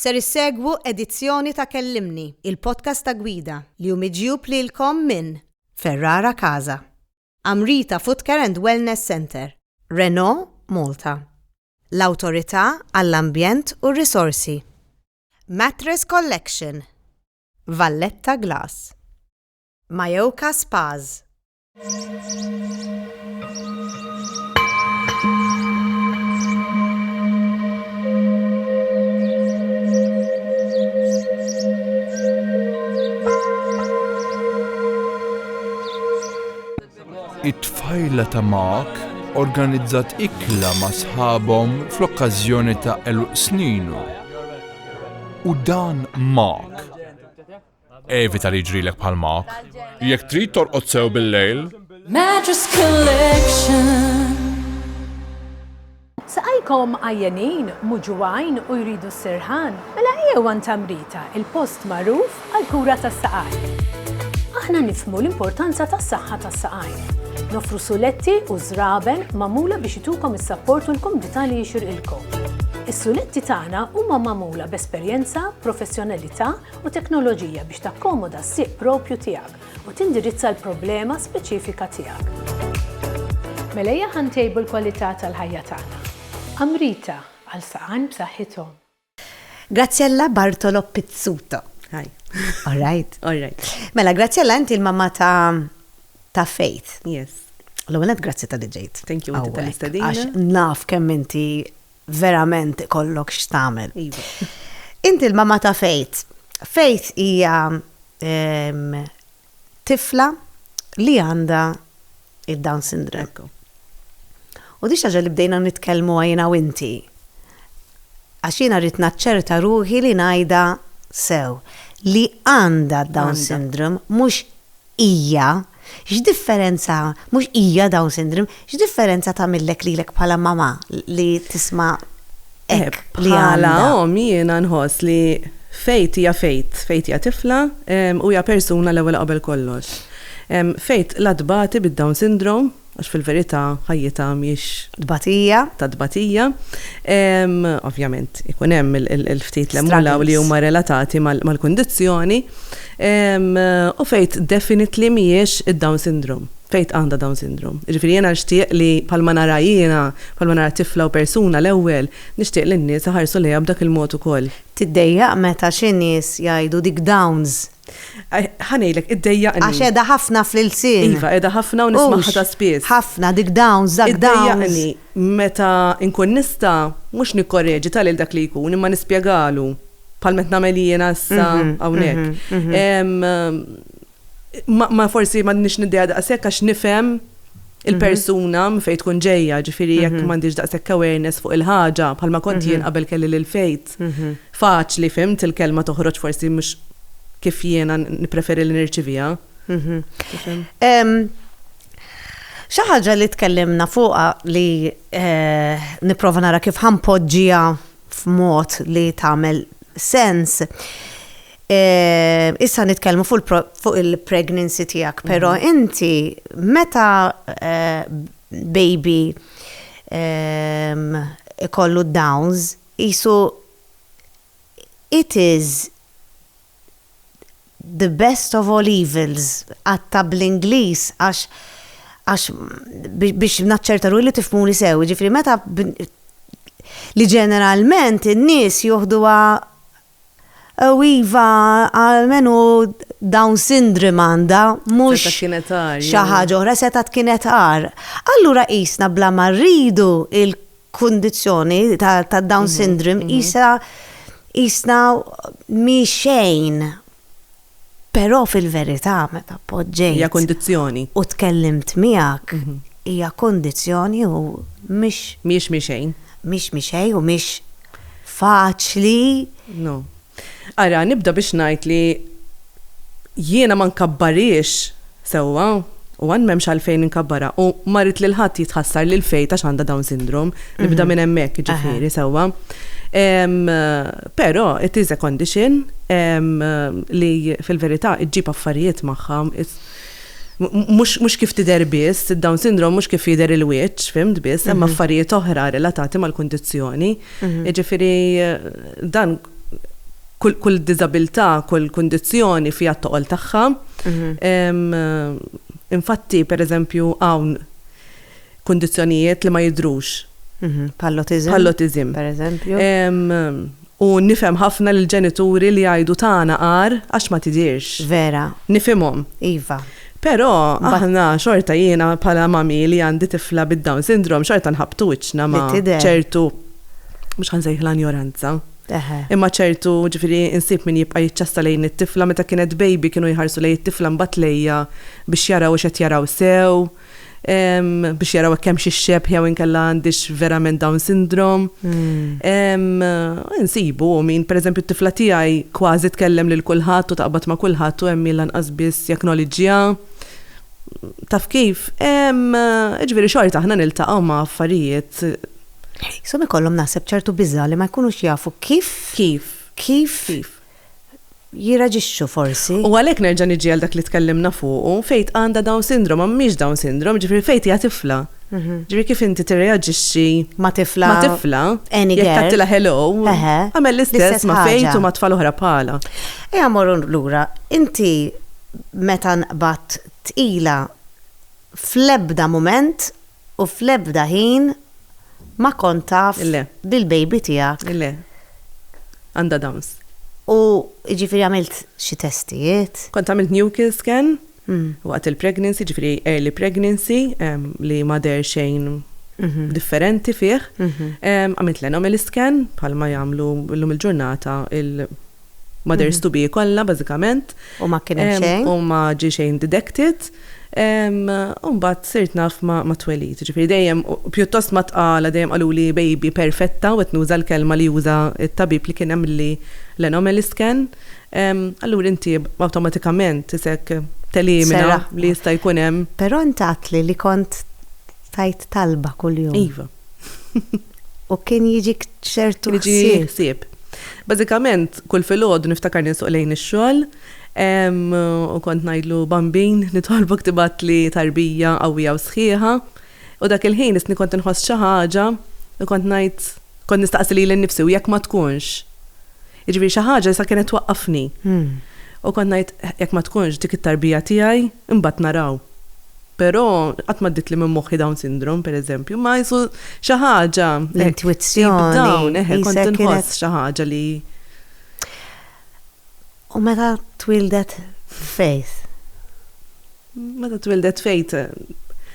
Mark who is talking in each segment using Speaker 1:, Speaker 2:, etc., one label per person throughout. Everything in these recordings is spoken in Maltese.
Speaker 1: Ser issegwu edizzjoni ta' Kellimni, il-podcast ta' Gwida, li hu miġjub lilkom minn Ferrara Casa, Amrita Footcare and Wellness Centre, Renault Malta, l-Awtorità għall-Ambjent u r-Risorsi, Mattress Collection, Valletta Glass, Mayoka Spas,
Speaker 2: It-tfajla ta' Mark organizzat ikla ma' sħabhom fl-okkażjoni ta' eluq sninu. U dan Mark Evita li jiġrilek bħal Mark. Jekk trid torqod sew bil-lejl. Mattress
Speaker 3: Collection.
Speaker 4: Saqajkom għajjenin, muġuwajn u jridu s-sirħan, mela ejjew għan tamrita, il-post magħruf għall-kura tas-saqajn. Aħna nifmu l-importanza tas-saħħa tas-saqajn. Nofru suletti u żraben magħmula biex itukom is-sapport u l-komdità li jixirqilkom. Is-suletti tagħna huma magħmula b'esperjenza, professjonalità u teknoloġija biex takkomoda s-sieq proprju tiegħek u tindirizza l-problema speċifika tiegħek. Mela ejja ħa ntejbu l-kwalità tal-ħajja tagħna. Amrita, għal saqajn b'saħħithom.
Speaker 1: Graziella Bartolo Pizzuto. Hi. All
Speaker 5: right.
Speaker 1: All right. Mela, Graziella,
Speaker 5: inti l-mamma
Speaker 1: ta' ta' Faith. Yes.
Speaker 5: L-għonet grazzi
Speaker 1: tal-li ġejt. Thank you, inti tal-istadina.
Speaker 5: Għax naf kemm
Speaker 1: inti verament ikollok x'tagħmel.
Speaker 5: Inti l-mamma
Speaker 1: ta' Faith. Faith hija ehm, tifla li għandha id-Down syndrome. U di xaġa li bdejna nitkellmu għajna u inti. Għax jiena rrid naċċerta ruħi li ngħidha sew li għandha down syndrome mhux Hija, x'differenza, mhux hija Down Syndrome, x'differenza tagħmillek lilek bħala mamà li tisma' hekk li għandha? Bħala omm jiena nħoss li
Speaker 5: Faith hija Faith, Faith hija tifla u hija persuna l-ewwel qabel kollox. Faith la tbati bid-Down Syndrome, għax fil-verità ħajjitha mhix. Tbatija. Ta'
Speaker 1: tbatija.
Speaker 5: Ovvjament ikun hemm il-ftit li hemm hawn li huma relatati mal-kundizzjoni u fejn definitely mhijiex id-Down Syndrome, fejn għandha Down Syndrome. Jiġifieri jiena nixtieq li bħalma nara jiena, bħalma nara tifla u persuna l-ewwel, nixtieq li n-nies iħarsu lejha b'dak il-mod ukoll. Tiddejjaq meta
Speaker 1: xi nies jgħidu dik Downs. Ħanejlek,
Speaker 5: id-dejjaqni. Għax edha ħafna
Speaker 1: fl-ilsien. Iva, edha ħafna u
Speaker 5: nismaħħa ta' spiss. Ħafna, dik dawns, dak
Speaker 1: dawns. Id-dejjaqni, meta
Speaker 5: nkun nista, mhux nikkoreġi ta' lil dak li jkun, imma nispjegalu, bħal m'qed nagħmel jiena issa hawnhekk. Ma forsi m'għandniex niddejjaq daqshekk għax nifhem il-persuna minn fejn tkun ġejja, ġifieri jekk m'għandix daqshekk awareness fuq il-ħaġa, bħalma kont jien qabel kelli lil Fejt. faċli fhimt il-kelma toħroġ forsi mhux kif jiena nippreferi li nirċiviha.
Speaker 1: Xi ħaġa li tkellimna fuqha li eh, nipprova nara kif ħampoġġija f'mod li tagħmel sens. Eh, issa nitkellmu fuq il-pregnancy tiegħek, però mhm. inti meta eh, baby ehm, ikollu downs, Qisu it is the best of all evils, qatta' bl-Ingliż għax għax biex naċċerta ruħi li tifhmuni sew, jiġifieri meta li ġeneralment in-nies joħduha Iva, almenu Down syndrome għandha, mhux xi ħaġa oħra, setgħa tkun qed agħar. Allura qisna bla ma rridu l-kundizzjoni tad-Down syndrome qisha qisna mhi xejn. Però fil-verità meta poġġejt. Hija kundizzjoni.
Speaker 5: U tkellimt
Speaker 1: miegħek, hija kundizzjoni u mhix. Mhijiex mhi xejn.
Speaker 5: Mhix mhi xejn
Speaker 1: u mhix faċli. No.
Speaker 5: Ara, nibda biex ngħid li jiena ma nkabbarhiex Sewwa, u għan m'hemmx għalfejn inkabbarha u ma rrid lil ħadd jitħassar li l-Fate għax għandha Down Syndrome. Nibda minn hemmhekk, jiġifieri, sewwa. Però it is a condition li fil-verità ġġib affarijiet magħha. Mhux kif tidher biss, id-Down Syndrome mhux kif jidher il-wiċċ, fhimt, biss, hemm affarijiet oħra relatati mal-kundizzjoni. Jiġifieri dan. kull diżabilità, kull kundizzjoni fiha t-toqol tagħha. Infatti, pereżempju, hawn kundizzjonijiet li ma jidhrux. Bħall-autiżm.
Speaker 1: Bħall-autiżm. Pereżempju.
Speaker 5: U nifhem ħafna l-ġenituri li jgħidu tagħna għar għax ma tidhirx. Vera. Nifhimhom. Iva.
Speaker 1: Però
Speaker 5: aħna xorta jiena bħala mami li għandi tifla bid-Down syndrome xorta nħabbtu wiċċna ma' ċertu mhux ħansejħilha njoranza. Imma ċertu ġifieri insib min jibqa' jiċċassa lejn it-tifla meta kienet baby kienu jħarsu lejn it-tifla mbagħad lejja biex jaraw hux qed jaraw sew. biex jaraw hekk hemmx ix-xebh jew inkella għandix verament Down syndrome. Hmm. Insibu min, pereżempju t-tifla tiegħi kważi tkellem lil kulħadd u taqbad ma' kulħadd u hemm min lanqas biss jacknowledgeha. Taf kif? Jiġifieri xorta aħna niltaqgħu ma' affarijiet. Isom
Speaker 1: ikollhom naħseb ċertu biża' li ma jkunux jafu kif. Kif? Kif? Kif? jirraġixxu forsi. U għalhekk nerġa' niġi
Speaker 5: għal dak li tkellimna fuqu, Faith għandha Down Syndrome, ma mhix Down Syndrome, jiġifieri Faith hija tifla. Jiġifieri kif inti tirreaġixxi ma' tifla, ma'
Speaker 1: tifla, any girl, jekk
Speaker 5: tgħattilha hello, eħe, agħmel l-istess ma' Faith u ma' tfal oħra bħalha. Ejja mmorru
Speaker 1: lura, inti meta nqbadt tqila fl-ebda mument U fl-ebda ħin ma kont taf li l-baby tiegħek. Le.
Speaker 5: Għandha Downs. U
Speaker 1: jiġifieri għamilt xi testijiet? Kont għamilt nuchal
Speaker 5: scan waqt il-pregnancy, jiġifieri early pregnancy, li ma deher xejn differenti fih. Għamilt l-anomaly scan bħalma jagħmlu llum il-ġurnata l. Mothers to be kollha bażikament. U ma kien hemm
Speaker 1: xejn. U ma ġie xejn
Speaker 5: detected. U mbagħad sirt naf mat-twelid. Jiġifieri dejjem pjuttost ma tqala dejjem qaluli baby perfetta u qed nuża l-kelma li uża t-tabib li kien għamilli l-anomaly scan. Allura inti awtomatikament isek telimina li jista' jkun hemm. Però int għedtli li
Speaker 1: kont tgħid talba kuljum. Iva. U kien jiġi ċertu ħsieb.
Speaker 5: Bażikament, kull filgħod niftakar ninsuq lejn ix-xogħol, u kont ngħidlu bambin nitolbok tibgħat li tarbija qawwija u sħiħa. U dak il-ħin isni kont inħoss xi ħaġa u kont ngħid kont nistaqsi lili nnifsi u jekk ma tkunx? Jiġifieri xi ħaġa issa kienet twaqqafni. U kont ngħid, jekk ma tkunx dik it-tarbija tiegħi, imbagħad naraw. Però qatt m'għaddietli minn moħħi Down syndrome, pereżempju, imma qisu xi ħaġa hekk. L-intwizzjoni.
Speaker 1: Down, eħe, kont inħoss
Speaker 5: xi ħaġa li.
Speaker 1: U meta twieldet Faith?
Speaker 5: Meta twildet Faith.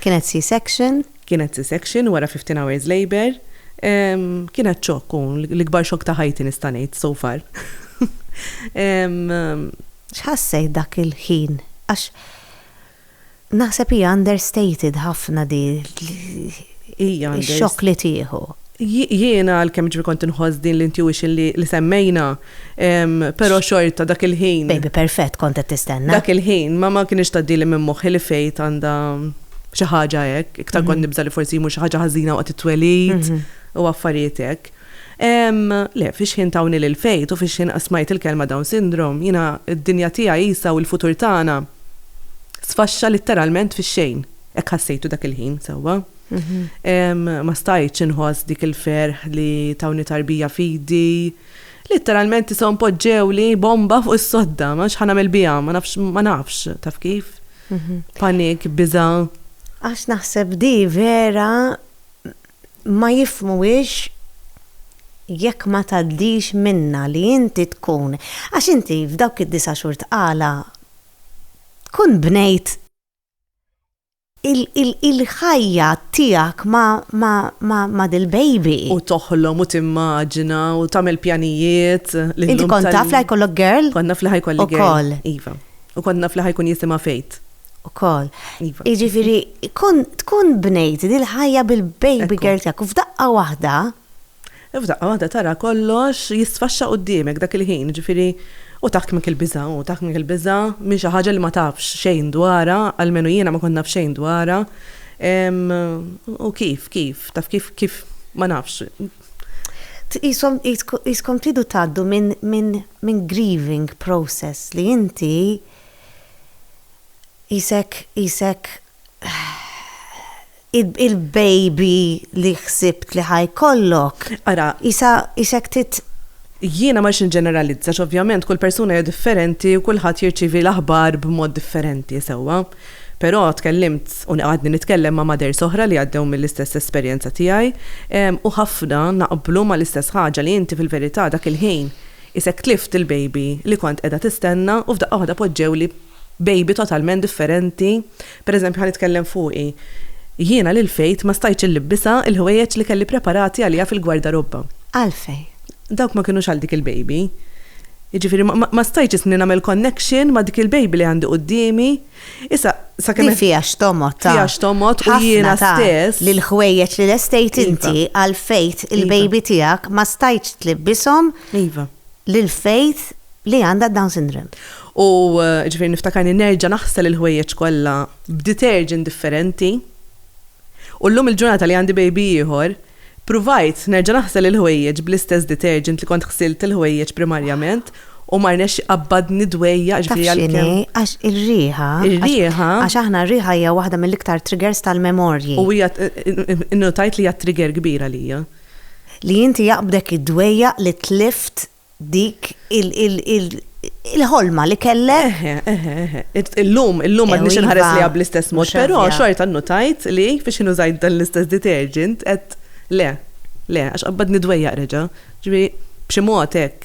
Speaker 5: Kienet
Speaker 1: C-section. Kienet C-section
Speaker 5: wara fifteen hours labour. Kienet xokk u l-ikbar xokk ta' ħajti nista' ngħid so far.
Speaker 1: X'ħassejt dak il-ħin? Għax naħseb hija understated ħafna di l-xokk li tieħu. Jiena
Speaker 5: għalkemm ġifieri kont inħoss din l-intuition li semmejna. Pero xorta dak il-ħin. Baby perfett kont qed
Speaker 1: tistenna. Dak il-ħin ma ma
Speaker 5: kienx tgħaddili minn moħħi li fejt għandha xi ħaġa hekk, iktar kont mhm. nibża li forsi jmur xi ħaġa ħażina waqt it-twelid mhm. u affarijiet hekk. Le, fiex ħin tawni lil fejt u fiex ħin qasmajt il-kelma Down syndrome, jina id-dinja tiegħi jisa u l-futur tagħna sfaxxa litteralment fix-xejn. Hekk ħassejtu dak il-ħin sewwa. Mhm. Ma stajtx inħoss dik il-ferħ li tawni tarbija fidi Litteralment ishom poġġewli bomba fuq is-sodda, ma nafx ħa nagħmel biha, ma nafx, ma nafx, taf kif? Mhm. Panik, biża'. Għax
Speaker 1: naħseb di vera ma jifmuwiex jekk ma tgħaddix minnha li inti tkun, għax inti f'dawk id-disa' xhur tqala tkun bnejt il-ħajja tiegħek ma' dil-baby. U toħlom u
Speaker 5: timmaġina u tagħmel pjanijiet li llum. Inti kont taf
Speaker 1: li ħajkollok girl? Kont naf li ħajkolli girl.
Speaker 5: Ukoll. Iva. U kont naf li ħajkun jisimha Faith. Ukoll.
Speaker 1: Iva. Jiġifieri tkun bnejt dil-ħajja bil-baby girl tiegħek u f'daqqa waħda. U f'daqqa waħda tara kollox
Speaker 5: jisfaxxa quddiemek dak il-ħin, jiġifieri u taħkmek il-biża', u taħkmek il-biża' minn xi ħaġa li ma tafx xejn dwarha, almenu jiena ma kont naf xejn dwarha. U kif, kif, taf kif, kif, ma nafx. Tqishom,
Speaker 1: tqiskom tridu tgħaddu minn grieving process li inti qisek, qisek il-baby li ħsibt li ħa jkollok. Ara. Qisha qisek tit.
Speaker 5: Jiena ma rridx niġġeneralizza għax ovvjament kull persuna hija differenti u kulħadd jirċievi l-aħbar b'mod differenti, sewwa. Però tkellimt u għadni nitkellem ma' mothers oħra li għaddew mill-istess esperjenza tiegħi u ħafna naqblu mal-istess ħaġa li inti fil-verità dak il-ħin qisek tlift il-baby li kont qiegħda tistenna u f'daqqa waħda poġġewli baby totalment differenti, per eżempju ħa nitkellem fuqi, jiena lil Faith ma stajtx illibbisha l-ħwejjeġ li kelli preparati għaliha fil-gwardarobba. Għalfejn?
Speaker 1: Dawk ma
Speaker 5: kinux għal dik il-baby. Jiġifieri ma stajtx isni nagħmel connection ma' dik il-baby li għandi quddiemi. Issa sakemm Din fiha x'tomgħod ta'.
Speaker 1: Fiha x'tomgħod u
Speaker 5: jiena stess. Li l-ħwejjeġ li
Speaker 1: lestejt inti għal Faith il-baby tiegħek ma stajtx tlibbishom. Iva.
Speaker 5: lil Faith
Speaker 1: li għandha Down syndrome. U
Speaker 5: ġifieri niftakarni nerġa' naħsel il-ħwejjeġ kollha b'detergent differenti. U llum il-ġurnata li għandi baby ieħor, pruvajt nerġa' naħsel il-ħwejjeġ bl-istess detergent li kont ħsilt il-ħwejjeġ primarjament u ma rnexx iqabbadni dwejjaq ġifieri għalkemm. Taf x'inhi? Għax
Speaker 1: ir-riħa. Ir-riħa. Għax
Speaker 5: aħna r-riħa
Speaker 1: hija waħda mill-iktar triggers tal-memorji. U hija
Speaker 5: innutajt li hija trigger kbira lija. Li inti
Speaker 1: jaqbdek id-dwejjaq li tlift dik il-ħolma li kellek? Eħe, eħe, eħe.
Speaker 5: Illum, illum m'għadniex inħares lejha bl-istess mod, però xorta nnutajt
Speaker 1: li
Speaker 5: fiex jien użajt dan l-istess detergent għedt le, le, għax qabbadni d-dwejjaq reġa'. Ġifieri b'xi mod hekk.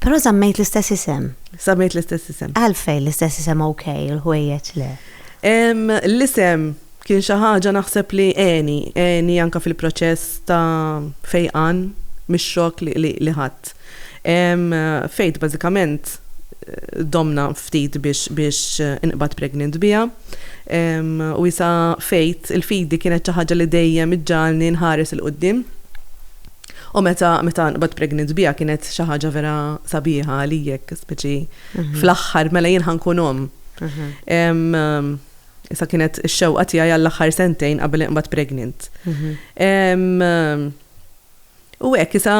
Speaker 5: Però
Speaker 1: żammejt l-istess isem. Żammejt l-istess isem.
Speaker 5: Għalfejn l-istess isem
Speaker 1: okej u l-ħwejjeġ le?
Speaker 5: L-isem. Kien xi ħaġa naħseb li għeni, għeni anke fil-proċess ta' fejqan mix-xokk li ħadt. Faith bażikament domna ftit biex inqbad pregnant biha u issa Faith, il-fidi kienet xi ħaġa li dejjem iġġagħalni nħares 'il quddiem u meta nqbad pregnant biha kienet xi ħaġa vera sabiħa għalijek, speċi fl-aħħar mela jien ħa nkun omm. Issa kienet ix-xewqa tiegħi għall-aħħar sentejn qabel inqbad pregnant. U hekk issa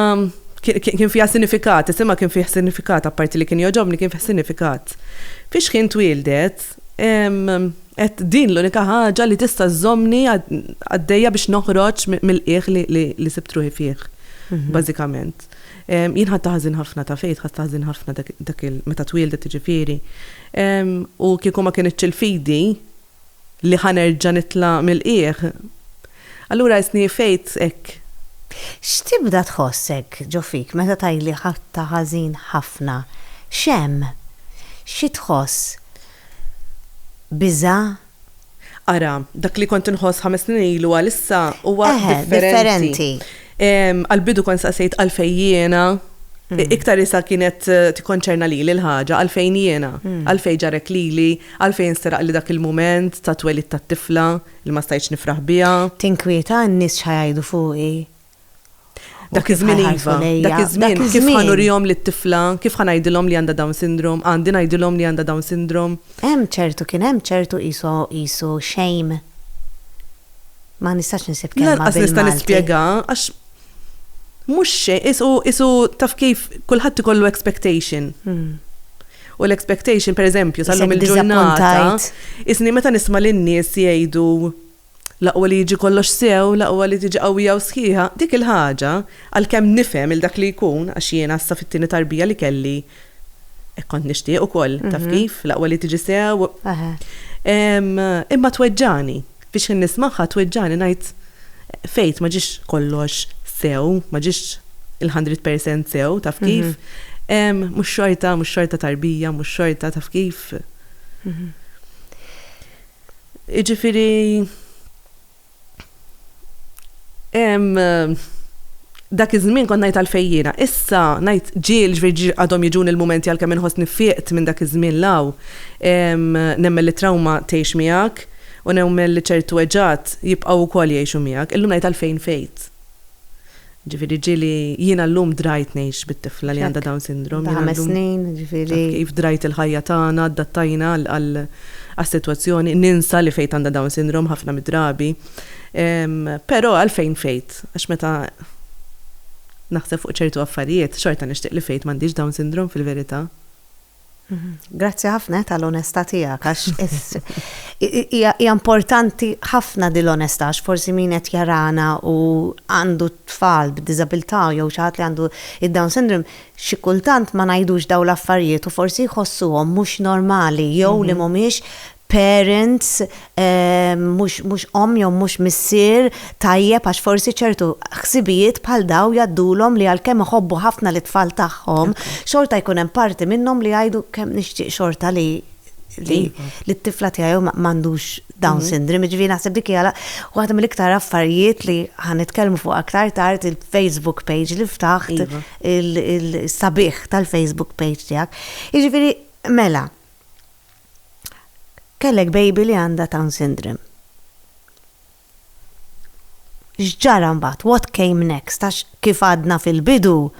Speaker 5: kien fiha sinifikat, isimha kien fih sinifikat, apparti li kien joġobni kien fih sinifikat. Fiex kien twildet, qed din l-unika ħaġa li tista' żomni għaddejja biex noħroġ mill-qiegħ li sibtruħi fih, mhm. bażikament. Jien ħadtha ħażin ħafna, taf għid ħadtha ħażin ħafna dak il-, meta twieldet jiġifieri. U kieku ma kinitx il-fidi li ħa nerġa' nitla' mill-qiegħ, allura għisni għifejt hekk. X'tibda
Speaker 1: tħoss hekk ġo fik meta tgħidli ħadtha ħażin ħafna? X'hemm? Xi tħoss? Biża'?
Speaker 5: Ara, dak li kont inħoss ħames snin ilu għal issa huwa differenti. Għal-bidu kont saqsejt għalfejn jiena, mm. iktar isa kienet eh, tikkonċerna li l-ħaġa, għalfejn jiena, mm. għalfejn ġarek lili, għalfejn seraq li dak il-moment ta' twelid ta' tifla li ma stajċ nifraħ biha. Tinkwieta n-nies
Speaker 1: xħajdu fuqi
Speaker 5: Dak iż-żmien iva, dak iż-żmien kif ħanurihom lit-tifla, kif ħanajdilhom li għandha Down Syndrome, għandi ngħidilhom li għandha Down Syndrome. Hemm ċertu, kien hemm
Speaker 1: ċertu qisu, qisu shame. Ma nistax insib kelma bil-Malti. Lanqas nista' nispjegha
Speaker 5: għax mhux xejn, qisu, qisu taf kif kulħadd ikollu expectation. Hmm. U l-expectation, per eżempju, sal-lum il-ġurnata, isni meta nisma' lin-nies jgħidu L-aqwa li jiġi kollox sew, l-aqwa li tiġi qawwija u sħiħa, dik il-ħaġa, għalkemm nifhem 'il dak li jkun, għax jiena issa fit-tieni tarbija li kelli hekk kont nixtieq ukoll, taf kif, l-aqwa li tiġi sew, imma tweġġagħni, fi xħin nismagħha tweġġagħni ngħid, Faith, ma ġiex kollox sew, ma ġiex il-hundred percent sew, taf kif, mhux xorta, mhux xorta tarbija, mhux xorta, taf kif. Jiġifieri dak iż-żmien kont ngħid għalfejn jiena. Issa ngħid ġiel ġifieri għadhom jiġuni l-mumenti għalkemm inħossni fieqt minn dak iż-żmien 'l hawn. Nemmen li t-trawma tgħix miegħek u nemmen li ċertu weġgħat jibqgħu wkoll jgħixu miegħek. Illum ngħid għalfejn fejt. Ġifieri ġieli jiena llum drajt ngħix bit-tifla li għandha Down Syndrome. Ta' ħames snin,
Speaker 1: ġifieri. Kif drajt il-ħajja
Speaker 5: tagħna, addattajna għas-sitwazzjoni, ninsa li Faith għandha Down Syndrome ħafna mid-drabi. Però għalfejn Faith? Għax meta naħseb fuq ċertu affarijiet, xorta nixtieq li Faith m'għandhiex Down Syndrome fil-verità.
Speaker 1: Grazzi ħafna tal-onestà tiegħek għax hija importanti ħafna din l-onestà għax forsi min qed jarana u għandu tfal b'diżabilità jew xi ħadd li għandu id-Down syndrome xi kultant ma ngħidux dawn l-affarijiet u forsi jħossuhom mhux normali jew li mhm. mhumiex parents, mhux omm jew mhux missier tajjeb għax forsi ċertu ħsibijiet bħal dawn jgħaddulhom li għalkemm iħobbu ħafna lit-tfal tagħhom, xorta jkun hemm parti minnhom li jgħidu kemm nixtieq xorta li li t-tifla tiegħi jew m'għandux down syndrome. Jiġifieri naħseb dik hija waħda mill-iktar affarijiet li ħa nitkellmu fuqha aktar tard il-Facebook page li ftaħt, is-sabiħ tal-Facebook page tiegħek. Jiġifieri mela, Kellek baby li għandha Down syndrome. X'ġara mbagħad? What came next? Għax kif għadna fil-bidu,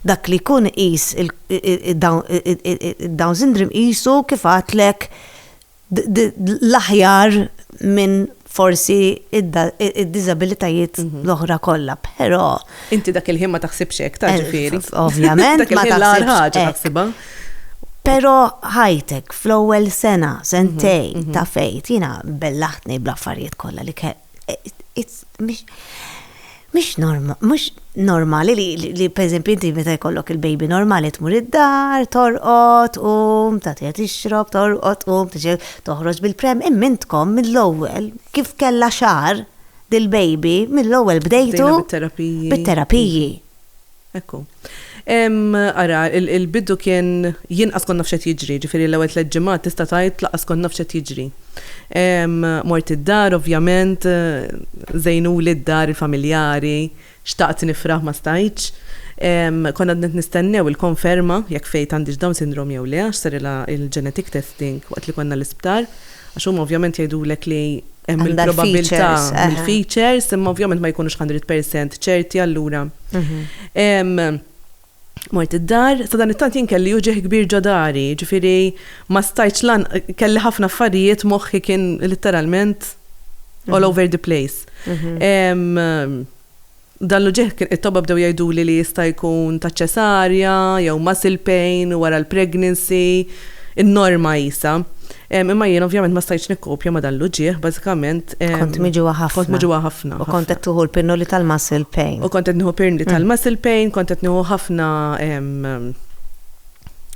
Speaker 1: dak li jkun iqis id-Down syndrome qisu kif għadtlek l-aħjar minn forsi id-diżabilitajiet l-oħra kollha, però. Inti dak il-ħin
Speaker 5: ma taħsibx hekk, ta' ġifieri. Ovvjament, ma
Speaker 1: taħsibx hekk. Pero ħajtek fl-ewwel sena, sentej mhm, mhm. ta' fejt, jina bellaħtni bl-affarijiet kollha li kell. Mhix mhux normali li li pereżempju inti meta jkollok il-baby normali tmur id-dar, torqod, tqum, tagħtiha tixrob, torqod, tqum, tiġi toħroġ bil-pram, imma intkom mill-ewwel kif kellha xahar dil-baby mill-ewwel bdejtu. Bdejna bit-terapiji. Bit-terapiji.
Speaker 5: Ekku. Emm, ara, il-bidu kien, jien qas kont naf x'qed jiġri, jiġifieri l-ewwel tliet ġimgħat tista' tgħid laqqas kont naf x'qed jiġri. Emm, mort id-dar ovvjament, żejnuli d-dar, il-familjari, xtaqt nifraħ ma stajtx. Emm, kont għadni qed nistennew il-konferma jekk Faith għandhiex Down Syndrome jew le għax sarilha l-genetic testing waqt li konna l-isptar. Għax huma ovvjament jgħidulek li hemm il-probabilità mill-features, imma ovvjament ma jkunux 100% ċerti allura. Mort id-dar, sadanittant jien kelli uġigħ kbir ġo dari, ġifieri ma stajtx lan kelli ħafna affarijiet moħħi kien litteralment all over the place. Dan l-uġigħ kien it-tobba bdew jgħiduli li jista' jkun ta' ċesarja jew muscle pain wara l-pregnancy, in-norma qisha. Imma jien ovvjament ma stajtx nikkopja ma' dan l-uġigħ, bażikament. Kont miġugħa ħafna.
Speaker 1: Kont miġugħa ħafna. U kont qed tuħu l-pinnoli tal-muscle pain. U kont qed nieħu pinnli
Speaker 5: tal-muscle pain, kont qed nieħu ħafna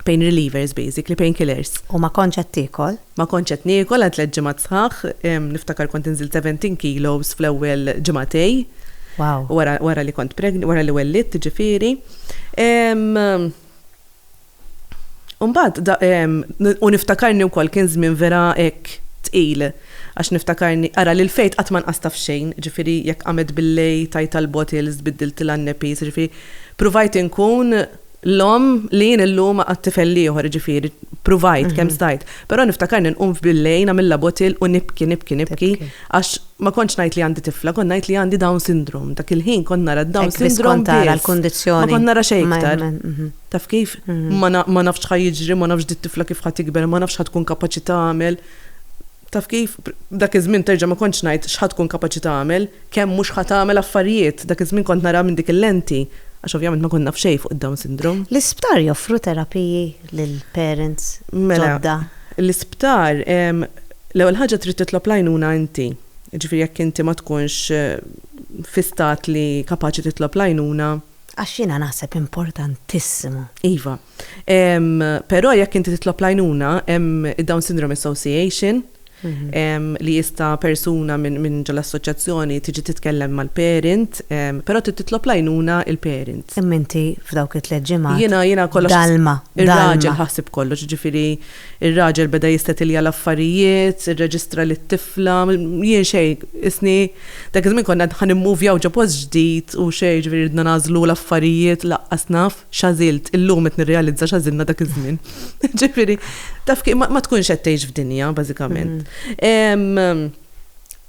Speaker 5: pain relievers basically, pain killers. U ma kontx qed tiekol?
Speaker 1: Ma kontx qed niekol
Speaker 5: għal tliet ġimgħat sħaħ, niftakar kont inżilt 17 kilos fl-ewwel ġimagħtej. Wow. Wara
Speaker 1: wara li kont
Speaker 5: pregn wara li wellidt jiġifieri. U mbagħad da u niftakarni wkoll kien żmien vera hekk tqil għax niftakarni ara lil Faith qatt ma nqasta f'xejn, jiġifieri jekk qamet bil-lejl tajtha l-bottles, biddiltilha n-nappies, jiġifieri pruvajt inkun L-omm li jien illum għad tifel l-ieħor, jiġifieri pruvajt kemm stajt. Però niftakarni nqum f'billejn għamilha bottle u nibki, nibki, nibki għax ma kontx ngħid li għandi tifla, kont ngħid li għandi Down Syndrome. Dak il-ħin kont nara d-Down Syndrome biss. Hekk biss kont tara l-kundizzjoni.
Speaker 1: Ma kont nara xejn iktar.
Speaker 5: Taf kif? Ma nafx x'ħa jiġri, ma nafx di t-tifla kif ħa tikber, ma nafx x'ħa tkun kapaċi tagħmel. Taf kif, dak iż-żmien terġa' ma kontx ngħid x'ħa tkun kapaċi tagħmel, kemm mhux ħa tagħmel affarijiet, dak iż-żmien kont naraha minn dik il-lenti, għax ovvjament ma kont naf xejn fuq id-Down Syndrome. L-isptar joffru
Speaker 1: terapiji lil parents ġodda? Mela, l-isptar,
Speaker 5: l-ewwel ħaġa trid titlob l-għajnuna inti. Jiġifieri jekk inti ma tkunx fi stat li kapaċi titlob l-għajnuna. Għax jiena
Speaker 1: naħseb importantissimu. Iva,
Speaker 5: Però jekk inti titlob l-għajnuna, hemm id-Down Syndrome Association, Mhm. li jista persuna minn ġol assoċjazzjoni tiġi titkellem mal-parent, però titlob lajnuna il-parent. Imma inti f'dawk
Speaker 1: it-tliet ġimgħat. Jiena jiena kollox. Dalma.
Speaker 5: Ir-raġel
Speaker 1: ħasib
Speaker 5: kollox, ġifieri ir-raġel beda jistetilja l-affarijiet, irreġistra lit-tifla, jien xejn, isni dak iż-żmien konna ħa nimmuvjaw ġo post ġdid u xejn, ġifieri ridna nagħżlu l-affarijiet laqqas naf. x'għażilt, illum qed nirrealizza x'għażilna dak iż-żmien. Ġifieri, taf kif ma tkunx qed tgħix f'dinja, bażikament. Mm-hmm.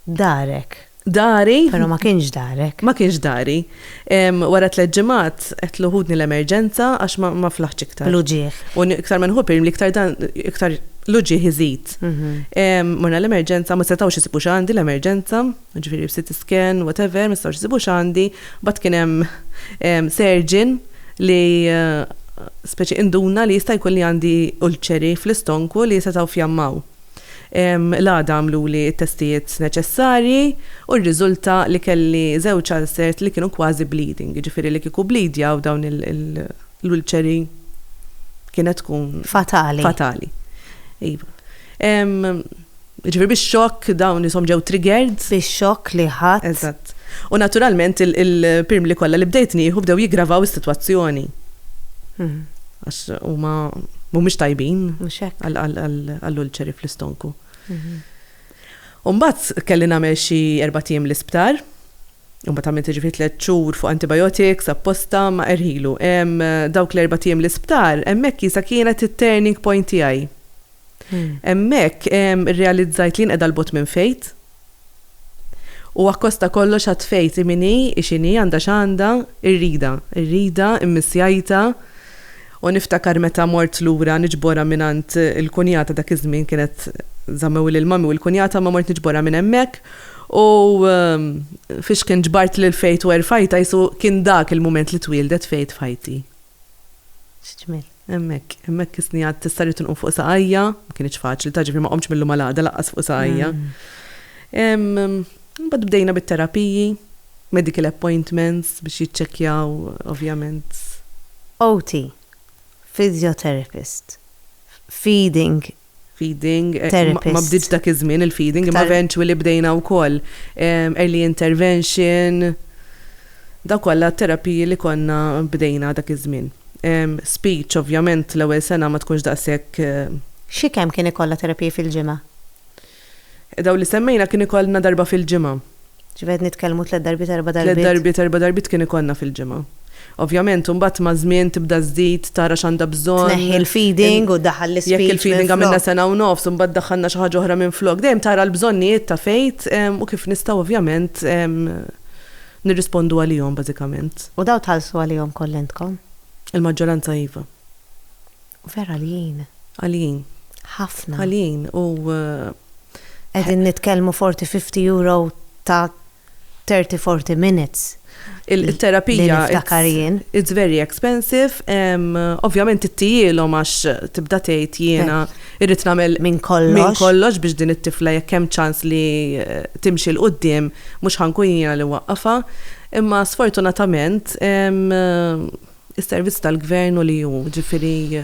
Speaker 1: Darek. Dari. Però
Speaker 5: ma kienx
Speaker 1: darek. Ma kienx dari.
Speaker 5: Wara tliet ġimgħat qed luħudni l-emerġenza għax ma flaħx iktar. Luġieħ. U iktar
Speaker 1: ma nħu li
Speaker 5: iktar dan iktar luġieħ iżid. Mm-hmm. Morna l-emerġenza ma setgħux isibu x'għandi l-emerġenza. Ġifieri b'CT scan, whatever, ma nistgħux nsibu x'għandi. Mbagħad kien hemm surgeon li speċi induna li jista' jkun li għandi ulċeri fl-istonku li setgħu fjammaw. L-għada għamluli t-testijiet neċessarji u rriżulta li kelli żewġ ulcert li kienu kważi bleeding, jiġifieri li kieku bblidjaw dawn l-ulċeri kienet tkun. Fatali. Fatali. Iva. Jiġifieri bix-xokk dawn ishom ġew triggered. Bix-xokk li
Speaker 1: ħadt. Eżatt. U
Speaker 5: naturalment il-pirmli kollha li bdejt nieħu bdew jiggravaw is-sitwazzjoni. Għax huma mhumiex tajbin. Mhux hekk. Għall-ulċeri fl-istonku. U mbagħad kelli nagħmel xi erbat ijiem l-isptar. U mbagħad għamilt jiġifieri tliet xhur fuq antibiotics apposta ma erħilu. Dawk l-erbat ijiem l-isptar, hemmhekk Isa kienet it-turning point tiegħi. Hemmhekk irrealizzajt li jien qiegħda 'l bogħod minn faith. U akkost ta' kollox għad faith hi min hi, hi x'inhi, għandha x'għandha, irridha, irridha, immissjajtha. U niftakar meta mort lura niġborha mingħand il-kunjata dak iż-żmien kienet żammewli l-mami u l-kunjata imma mort niġborha minn hemmhekk U fixkien ġbart lil Faith u erfajtha qisu kien dak il-mument li twieldet Faith f'ħajti.
Speaker 1: X'ġmiel. Hemmhekk,
Speaker 5: hemmhekk isni għad tista' rrid inqum fuq saqajja, ma kienx faċli, ta' ġifieri ma qomtx mill-lum għal għada laqqas fuq saqajja. Imbagħad bdejna bit-terapiji, medical appointments biex jiċċekkjaw ovvjament. OT,
Speaker 1: physiotherapist, feeding feeding, ma bdietx dak
Speaker 5: iż-żmien il-feeding, imma eventually bdejna wkoll early intervention, dawk kollha t-terapiji li konna bdejna dak iż-żmien. Speech ovvjament l-ewwel sena ma tkunx daqshekk. Xi kemm
Speaker 1: kien ikollha terapiji fil-ġimgħa?
Speaker 5: Dawn li semmejna kien ikollna darba fil-ġimgħa. Ġifieri qed nitkellmu
Speaker 1: tliet darbiet erba' darbiet? Tliet darbiet erba' darbiet kien
Speaker 5: ikollna fil-ġimgħa. Ovvjament imbagħad maż-żmien tibda żżid, tara x'għandha bżonn. Tneħħi l-feeding
Speaker 1: u ddaħħal l-ispeech minflok. Jekk il-feeding għamilna sena
Speaker 5: u nofs u mbagħad daħħalna xi ħaġa oħra minflok. Dejjem tara l-bżonnijiet ta' Faith u kif nistgħu ovvjament nirrispondu għalihom bażikament. U dawn tħallsu għalihom
Speaker 1: kollha intkom? Il-maġġoranza
Speaker 5: iva.
Speaker 1: Vera għaljin.
Speaker 5: Għaljin. Ħafna.
Speaker 1: Għaljin u qegħdin nitkellmu forty, fifty euro ta' thirty, forty minutes. Il-terapija.
Speaker 5: Li niftakar jien. It's very expensive. Ovvjament ittijielhom għax tibda tgħid jiena irrid nagħmel. Minn kollox. Minn kollox
Speaker 1: biex din it-tifla
Speaker 5: jekk hemm ċans li timxi 'l quddiem mhux ħa nkun jiena li nwaqqafha. Imma sfortunatament Is-servizz tal-Gvern u li hu, jiġifieri.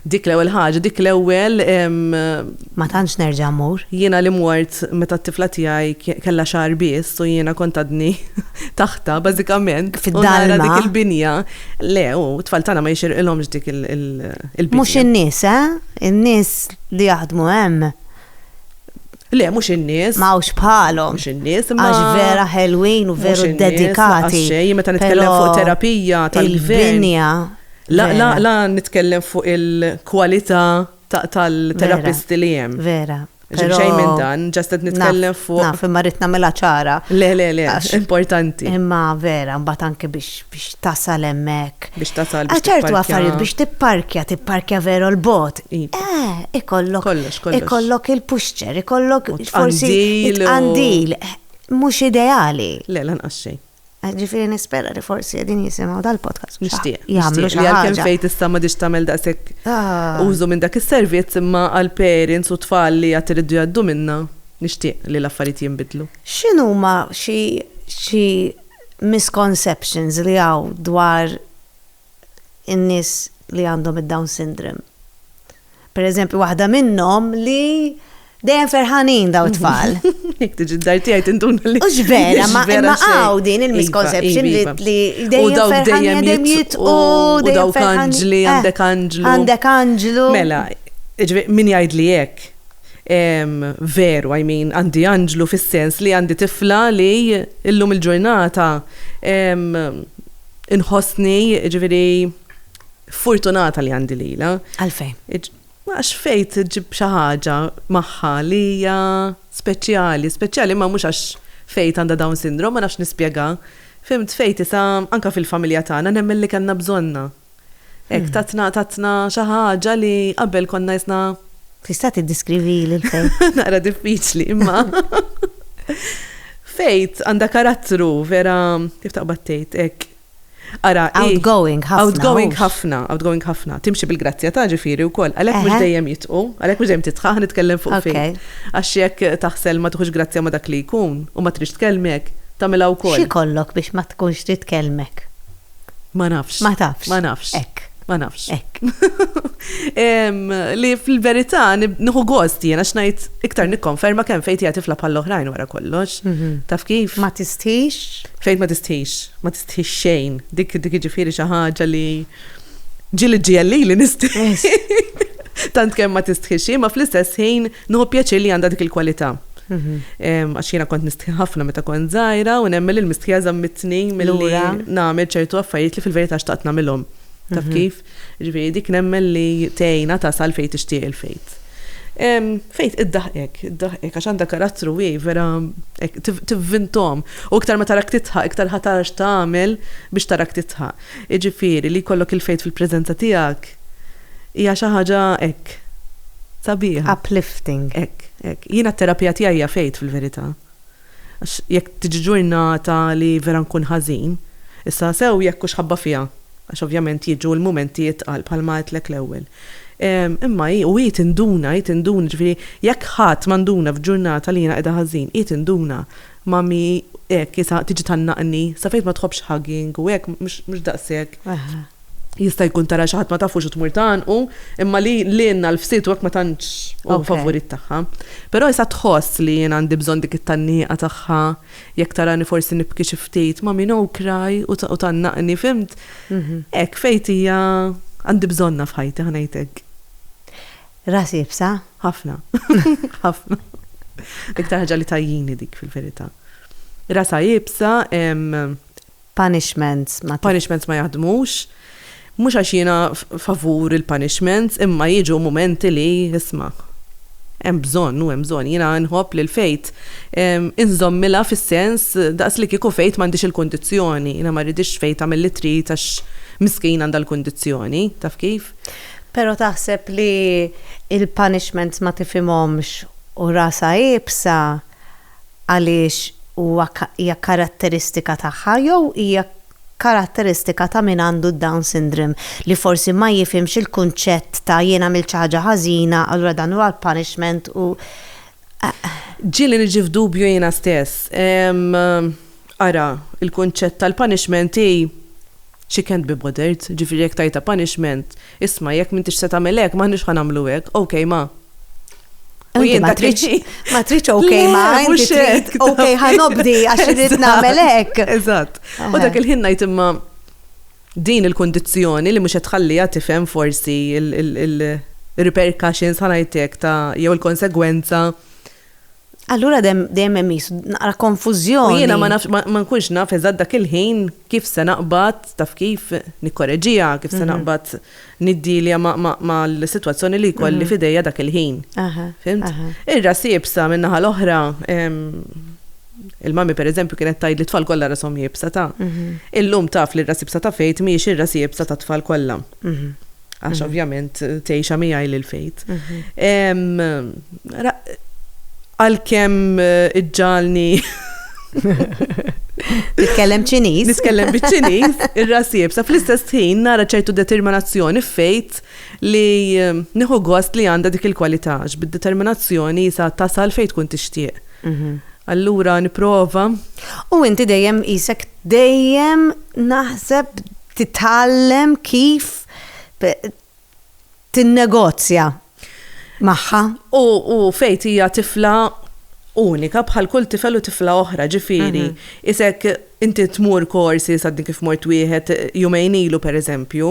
Speaker 5: Dik l-ewwel ħaġa, dik l-ewwel ehm, Ma
Speaker 1: tantx nerġa' mmur. jiena li mort
Speaker 5: meta t-tifla tiegħi k- kellha xahar biss u jiena kont għadni taħtha bażikament. U nara Fid-dalma. dik
Speaker 1: il-binja.
Speaker 5: Le, u t-tfal tagħna ma jixirqilhomx dik il- il- il-binja. Mhux in-nies, eh?
Speaker 1: In-nies li jaħdmu hemm
Speaker 5: Le, mhux in-nies. Ma hawnx bħalhom.
Speaker 1: Mhux in-nies, imma. Għax
Speaker 5: vera ħelwin
Speaker 1: u veru dedikati. Xejn, meta nitkellem
Speaker 5: fuq terapija tal-binja.
Speaker 1: La, la, la
Speaker 5: nitkellem fuq il-kwalità tal-terapisti li hemm. Vera. Xejn
Speaker 1: minn dan,
Speaker 5: ġast qed nitkellem fuq. Naf, imma rrid nagħmilha
Speaker 1: ċara. Le, le, le,
Speaker 5: importanti. Imma vera,
Speaker 1: mbagħad anke biex tasal hemmhekk. Biex tasal biex. Ċertu
Speaker 5: affarijiet biex
Speaker 1: tipparkja, tipparkja veru l-bot, Eh, ikollok. Kollox, kollox. Ikollok il-puxċer, ikollok forsi. Għandil. Għandil. Mhux ideali. Le, lanqas xejn.
Speaker 5: Eh, Ġifieri nispera
Speaker 1: li forsi qegħdin jisimgħu dal-podcast. Nixtieq. Jagħmlu
Speaker 5: xi Għalkemm ħaġa.
Speaker 1: fejn tista' ma
Speaker 5: diġ tagħmel daqshekk Ah. użu minn dak is-servizz imma għal parents u tfal li għad iridu jgħaddu minnha nixtieq li l-affarijiet jinbidlu. X'inhuma
Speaker 1: xi xi misconceptions li hawn dwar in-nies li għandhom id-Down Syndrome. Per eżempju, waħda minnhom li dejjem ferħanin daw tfal. Jek tiġi d-dar
Speaker 5: tijaj tindun li. Ux vera, ma imma
Speaker 1: għaw din iva, il-misconception iva, iva. li dejjem ferħan dejjem jit u dejjem
Speaker 5: ferħanġli, eh, għandek anġlu. Għandek anġlu. Mela, min jgħid
Speaker 1: li jek.
Speaker 5: Veru, I mean, għandi anġlu fis-sens li għandi tifla li illum il-ġurnata Inħossni, jiġifieri, furtunata li għandi lilha. Għalfejn?
Speaker 1: Għax fejt
Speaker 5: ġib xi ħaġa magħha li hija speċjali, speċjali ma mhux għax fejt għandha Down syndrome, ma nafx nispjega. Fimt fejt isa anke fil-familja tagħna nemmen li kellna bżonnha. Hekk tatna tatna xi ħaġa li qabel konna jisna. Tista' tiddiskrivi
Speaker 1: lil fejt? Naqra diffiċli
Speaker 5: imma. Fejt għandha karattru vera kif taqbad tgħid hekk. Ara, outgoing ħafna.
Speaker 1: Outgoing ħafna,
Speaker 5: outgoing ħafna. Timxi bil-grazzja ta' ġifieri wkoll. Għalhekk mhux dejjem jitqu, għalhekk mhux dejjem titħaħ nitkellem fuq fejn. Għax jekk taħsel ma tħux grazzja ma dak li jkun u ma trix tkellmek, tagħmilha wkoll. Xi kollok biex ma
Speaker 1: tkunx titkellmek? Ma
Speaker 5: nafx. Ma tafx. Ma nafx. Ekk.
Speaker 1: Ma nafx. Ekk.
Speaker 5: Li fil-verità nħu gost jiena xnajt iktar nikkonferma kemm fejn hija tifla bħal oħrajn wara kollox. Mhm. Taf kif? Ma tistħix?
Speaker 1: Fejn ma tistħix,
Speaker 5: ma tistħix xejn. Dik dik jiġifieri xi ħaġa li ġieli ġieli li nistħi. Tant kemm ma tistħix, ma fl-istess ħin Nieħu pjaċir li għandha dik il-kwalità. Għax jiena kont nistħi ħafna meta kont żgħira u nemmen li l-mistħija żammitni milli nagħmel ċertu affarijiet li fil-verità xtaqt nagħmilhom. Taf kif? Ġifieri dik nemmen li tgħinha tasal fejn tixtieq il-fejt. Fejt iddaħqek, iddaħqek għax għandha karattru hi vera tivvintom. U iktar ma tarak titħaq, iktar ħa tara x'tagħmel biex tarak titħaq. Jiġifieri li jkollok il-fejt fil-preżenza tiegħek Hija xi ħaġa hekk. Sabiħa. Uplifting.
Speaker 1: Hekk, hekk. Jiena
Speaker 5: t-terapija tiegħi hija faith fil-verità. Għax jekk tiġi ġurnata li vera nkun ħażin, issa sew jekk hux ħabba fiha, għax ovvjament jiġu l-mumenti itqal bħalma għedtlek l-ewwel. Imma hi, u hi tinduna, hi tinduna, ġifieri jekk ħadd ma nduna f'ġurnata li jiena qiegħda ħażin, hi tinduna. Mummy hekk, isa tiġi tgħannaqni, sa faith ma tħobbx hugging u hekk, mhux daqshekk. Jista' jkun tara xi ħadd ma tafux u tmur tagħanqu, imma li lilna l-fsied u hekk ma tantx hu favorit tagħha. Però issa tħoss li jien għandi bżonn dik it-tgħanniqa tagħha, jekk tarani forsi nibki xi ftit, mommy no cry u tgħannaqni, fhimt? Hekk, Faith hija għandi bżonnha f'ħajti, ħa ngħid hekk.
Speaker 1: Ras iebsa? Ħafna.
Speaker 5: Ħafna. L-iktar ħaġa li tgħajjini dik fil-verità. Rasha iebsa, Punishments
Speaker 1: ma. Punishments ma jaħdmux.
Speaker 5: Mhux għax jiena favur il-punishments imma jiġu mumenti li, isma', hemm bżonn u hemm bżonn. Jiena nħobb li l-faith inżommilha fis-sens daqs li kieku faith m'għandhiex il-kundizzjoni. Jiena ma rridhiex faith tagħmel li trid għax miskin għandha l-kundizzjoni. Taf kif? Però taħseb
Speaker 1: li l-punishments ma tifhimhomx u rasha iebsa għaliex huwa hija karatteristika tagħha jew hija karatteristika ta' min għandu d-Down syndrome li forsi ma jifhimx il-kunċett ta' jien għamilt xi ħaġa ħażina allura dan huwa l-punishment u
Speaker 5: Ġieli niġi f'dubju jiena stess. Ara, il-kunċett tal-punishment hi, She can't be bothered, jiġifieri jekk tgħidha punishment, isma' jekk m'intix se tagħmel hekk, m'aħniex ħa nagħmlu hekk, ok ma. U jien dak li.
Speaker 1: Ma tridx ok ma, inti trid ok ħa nobdi għax irid nagħmel hekk. Eżatt. U dak
Speaker 5: il-ħin ngħid imma din il-kundizzjoni li mhux qed tħalliha tifhem forsi il-repercussions ħa ngħidlek ta' jew il-konsegwenza
Speaker 1: Allura dejjem hemm isu naqra konfużjoni. U jiena ma nafx
Speaker 5: ma nkunx naf eżatt dak il-ħin kif se naqbad taf kif nikkoreġija, kif se mhm. naqbad niddilja mal-sitwazzjoni li jkolli mhm. f'idejja dak il-ħin. Fimt? Ir-ras jibsa min-naħa l-oħra il-mami per eżempju kienet tajd li tfal kollha rashom jibsa ta'. Mhm. Illum taf li r-ras jibsa ta' fejt mhijiex ir-ras jibsa ta' tfal kollha. Għax mhm. ovvjament tgħixha miegħi lil fejt. Għalkemm eh, iġġalni
Speaker 1: Titkellem ċiniż? Nitkellem biċ-ċiniż,
Speaker 5: ir-rasib. Sa fl-istess ħin nara ċertu determinazzjoni fejt li ehm, nieħu gost li għandha dik il-kwalità, bid-determinazzjoni sa tasal fejt tkun tixtieq. Mhm. Allura niprova. U inti
Speaker 1: dejjem isek dejjem naħseb Titgħallem kif tinnegozja magħha. U
Speaker 5: Faith hija tifla unika bħal kull tifel u tifla oħra, ġifieri isek inti tmur courses, għadni kif mort wieħed jumejn ilu pereżempju,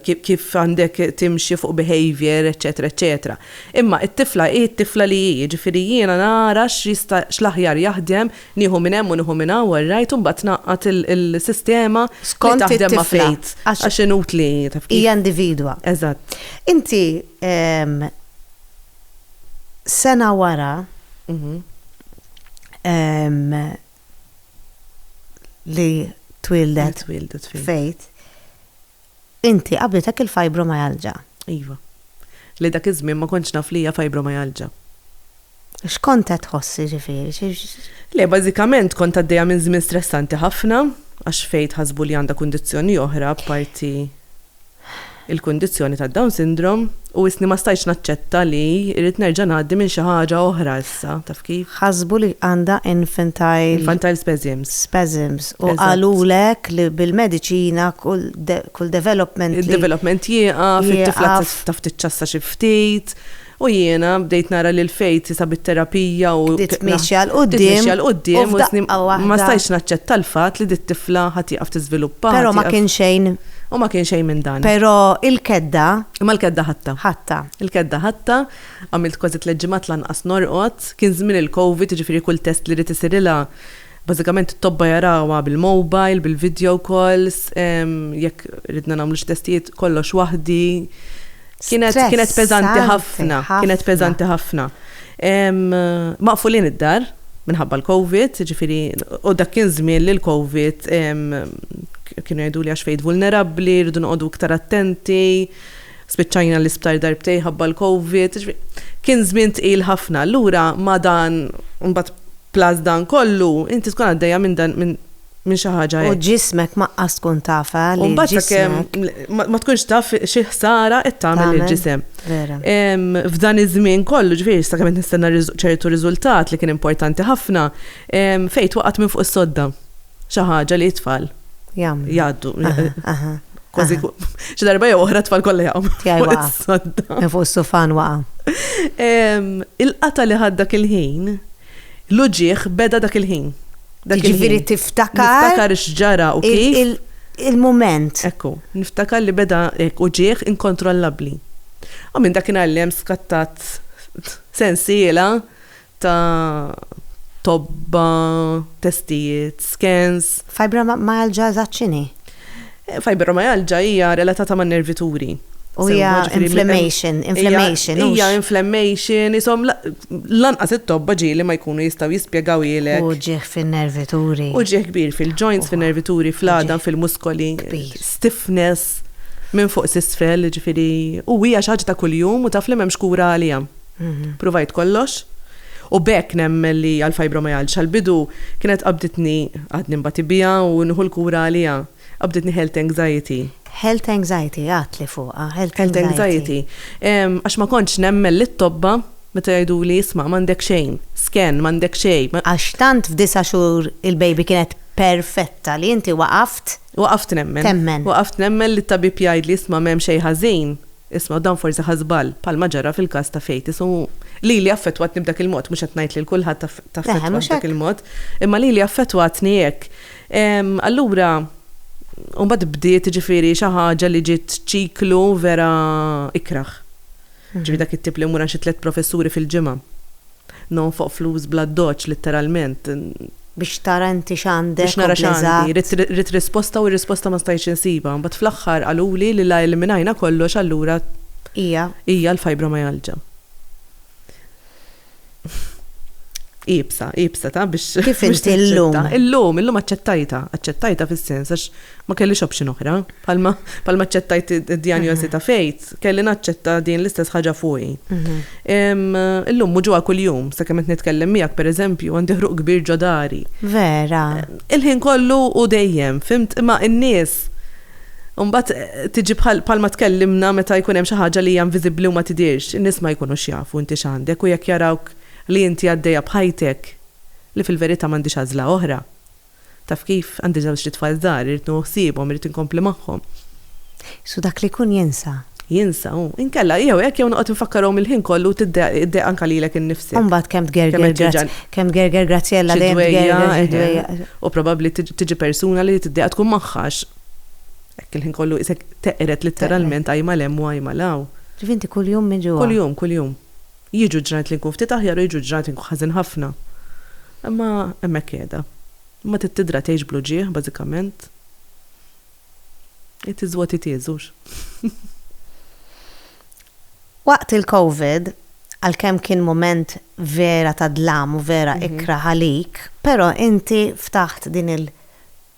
Speaker 5: kif għandek timxi fuq behaviour, eċċetera eċċetera. Imma t-tifla hi t-tifla li hi, jiġifieri jiena nara x'jista' x'l-aħjar jaħdem Nieħu minn hemm u nieħu minn hawn all right u mbagħad tnaqqad il-sistema li taħdem ma' ftit għax inutli taf kif. Hija individwa. Eżatt. Inti
Speaker 1: sena wara li twieldet Faith, Inti qabiltek il-fibromialgia? Iva.
Speaker 5: Li dak iż-żmien ma kontx naf li hija fibromialgia.
Speaker 1: X'kont qed tħoss jiġifieri? Le, bażikament
Speaker 5: kont għaddejja minn żmien stressanti ħafna għax Faye tħassbu li għandha kundizzjoni oħra apparti l-kundizzjoni tad-Down Syndrome u wisni ma stajtx naċċetta li irrid nerġa' ngħaddi minn xi ħaġa oħra. Sa, taf kif? Ħasbu li għandha
Speaker 1: infantile. Infantile spasms. Spasms. U qalulek li bil-mediċina kull development. Id-development
Speaker 5: jieqaf, it-tifla taf tiċċassa xi ftit. U jiena bdejt nara li l-fejt sa bit-terapija u. Bdiet tmexxi għal quddiem.
Speaker 1: Tmexxi għal quddiem.
Speaker 5: Ma stajtx naċċetta l-fatt li dit-tifla ħadd jieqaf tiżviluppa. Però ma kien xejn.
Speaker 1: U ma kien xejn minn
Speaker 5: dan. Però il-kedda.
Speaker 1: Imma l-kedda ħatta.
Speaker 5: Ħatta. Il-kedda ħatta. Għamilt kważi tliet ġimgħat lanqas norqod. Kien żmien il-Covid, jiġifieri kull test li ridt isirilha, bażikament it-tobba jarawha bil-mobile, bil-video calls, jekk ridna nagħmlu xi testijiet kollox waħdi. Kienet kienet peżanti ħafna, kienet peżanti ħafna. Maqfulin id-dar minħabba l-Covid, jiġifieri u dak kien żmien li l-Covid kienu jgħiduli għax fejn vulnerabbli, rridu noqogħdu iktar attenti. Spiċċajna l-isptar darbtejn ħabba l-Covid, jiġifieri kien żmien tqil ħafna. Allura ma' dan imbagħad plus dan kollu, inti tkun għaddejja minn dan minn minn xi ħaġa hekk. U ġismek ma qas tkun
Speaker 1: taf, eh, li ġismek. U mbagħad ma
Speaker 5: ma tkunx taf xi ħsara qed tagħmel lill-ġisem. Vera. F'dan iż-żmien kollu, jiġifieri sakemm qed nistenna ċertu riżultat li kien importanti ħafna, fejn twaqgħet minn fuq is-sodda. xi ħaġa li t-tfal jagħmlu. Jgħaddu. Kważi xi darba jew oħra tfal kollha jaqgħu. Tiegħi waqa'. Fuq is-sufan
Speaker 1: waqa'.
Speaker 5: Il-qata li ħad dak il-ħin, l-uġieħ beda dak il-ħin. Ġifieri
Speaker 1: tiftakar. Tiftakar x'ġara u kif.
Speaker 5: Il-moment.
Speaker 1: Ekku, niftakar
Speaker 5: li beda uġieħ inkontrollabbli. U minn dak inallem skattat sensiela ta' tobba, testijiet, skans. Fibromyalgia
Speaker 1: eżatt x'inhi?
Speaker 5: Fibromyalgia hija relatata man-nervituri.
Speaker 1: U hija
Speaker 5: inflammation, inflammation. Hija inflammation, isom lanqas it-tobba ġieli ma jkunu jistgħu jispjegaw ilek. U ġieħ fin-nervituri.
Speaker 1: U ġieħ kbir
Speaker 5: fil-joints, fin-nervituri, fl-għadam, fil-muskoli. Kbir. Stiffness minn fuq s'isfel, jiġifieri u hija xi ħaġa ta' kuljum u taf li m'hemmx kura għaliha. Provajt kollox, u b'hekk nemmen li għall-fibromyalgia tal-bidu kienet qabditni, għadni nbati biha u nieħu l-kura għaliha, qabditni health anxiety. Health anxiety,
Speaker 1: għidtli fuqha, health anxiety. Health anxiety.
Speaker 5: Għax ma kontx nemmen lit-tobba meta jgħiduli, isma' m'għandek xejn, scan, m'għandek xejn. Għax tant f'disa'
Speaker 1: xhur il-baby kienet perfetta li inti waqaft. Waqaft nemmen. Temmen. Waqaft
Speaker 5: nemmen li t-tabib jgħidli, isma' m'hemm xejn ħażin. Isma' u dan forsi ħa żball, bħalma ġara fil-każ ta' Feitis u lili affettwatni b'dak il-mod, mhux qed ngħid lil kulħadd taffettwah b'dak il-mod, imma lili affettwatni hekk. Allura u mbagħad bdiet jiġifieri xi ħaġa li ġiet ċiklu vera ikrah. Ġifieri dak it-tip li mmur għand xi tliet professuri fil-ġimgħa. Nonfoq flus bl-addoċċ, litteralment. Biex
Speaker 1: tara inti x'għandek u bl-eżatt. Biex nara x'għandi.
Speaker 5: Ridt, ridt risposta u r-risposta ma stajtx insibha. Imbagħad fl-aħħar qaluli li la eliminajna kollox allura. Hija. Hija l-fibromialgia. Iebsa, iebsa ta' biex. Kif inti llum.
Speaker 1: Illum, illum aċċettajtha.
Speaker 5: Aċċettajtha fis-sens għax ma kellix option oħra. Bħalma bħalma aċċettajt id-djanjosi ta' fejt, kelli naċċetta din l-istess ħaġa fuqi. Illum mhu ġewwa kuljum, sakemm qed nitkellem miegħek pereżempju, għandi ħruq kbir ġo dari. Vera.
Speaker 1: Il-ħin kollu
Speaker 5: u dejjem, fimt? Imma n-nies Mbagħad tiġi bħalma tkellimna meta jkun hemm xi ħaġa li hija inviżibbli u ma tidhirx, in-nies ma jkunux jafu inti x'għandek u jekk jarawk li inti għaddejja b'ħajtek, li fil-verità m'għandix għażla oħra. Taf kif, għandi żewġt itfal żgħar, irrid nieħu ħsiebhom, irrid inkompli magħhom.
Speaker 1: So
Speaker 5: dak li jkun
Speaker 1: jinsa?
Speaker 5: Jinsa hu. Inkella, jew hekk jew noqgħod infakkarhom il-ħin kollu u tiddejjaq anke lilek innifsek. U mbagħad kemm tgerger,
Speaker 1: kemm tgerger Graziella dejjem tgerger xi dwejjaq. U probabbli
Speaker 5: tiġi persuna li tiddejjaq tkun magħha għax hekk il-ħin kollu qisek teqred litteralment ajma 'l hemm u ajma 'l hawn. Ġifieri inti kuljum
Speaker 1: miġugħa? Kuljum, kuljum.
Speaker 5: Jiġu ġranet li nkun ftit aħjar u jiġu ġranet li nkun ħażin ħafna. Imma hemmhekk qiegħda. Imma trid tidra tgħix bl-uġigħ, bażikament. It is what it is, hux?
Speaker 1: Waqt il-Covid, għalkemm kien mument vera ta' dlam u vera ikrah għalik, però inti ftaħt din il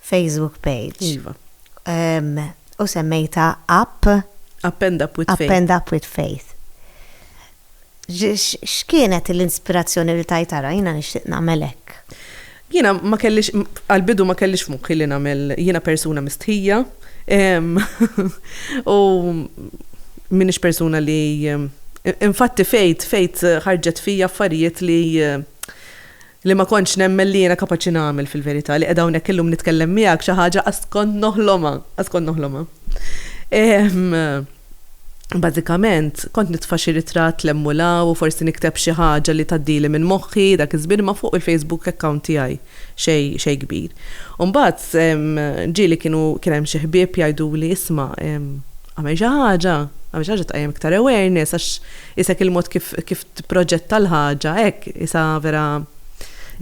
Speaker 1: Facebook page. Iva. U semmejtha app? App End Up
Speaker 5: With Faith. App End Up With Faith.
Speaker 1: X'kienet l-inspirazzjoni li tajt ara jiena nixtieq nagħmel hekk? Jiena ma
Speaker 5: kellix, għal-bidu ma kellix f'moħħi li nagħmel jiena persuna mistħija. U minix persuna li Infatti fejt, fejt ħarġet fija affarijiet li li ma kontx nemmen li jiena kapaċi nagħmel fil-verità, li qiegħda hawnhekk illum nitkellem miegħek xi ħaġa qatt kont noħlomha, qatt kont noħlomha. Bażikament, kont nitfa' xi ritratt 'l hemm u 'l hawn u forsi nikteb xi ħaġa li tgħaddili minn moħħi dak iż-żmien imma fuq il-Facebook account tiegħi xejn xejn kbir. U mbagħad ġieli kienu kien hemm xi ħbieb jgħiduli isma' agħmel xi ħaġa, agħmel xi ħaġa tqajjem iktar awareness għax isek il-mod kif kif tipproġetta l-ħaġa hekk isa vera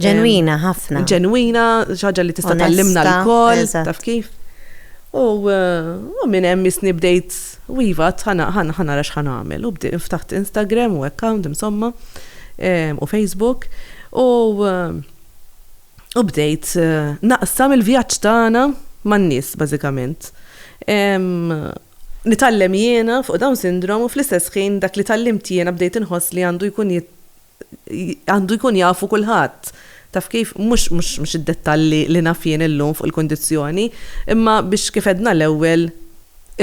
Speaker 5: ġenwina
Speaker 1: ħafna. Ġenwina, ħaġa
Speaker 5: li tista' tallimna l-kol, taf kif. U eh, minn hemm isni bdejt u iva ħana ħana rax ħana għamel. U bdejt ftaħt Instagram u account insomma eh, u Facebook. U eh, u bdejt naqsam il-vjaġġ tagħna man-nies bażikament. nitgħallem jiena fuq Down Syndrome u fl-istess ħin dak li tgħallimt jiena bdejt inħoss li għandu jkun għandu jkun jafu kulħadd. Taf kif? Mhux mhux id-dettalli li naf jien illum fuq il-kundizzjoni, imma biex kif għedna l-ewwel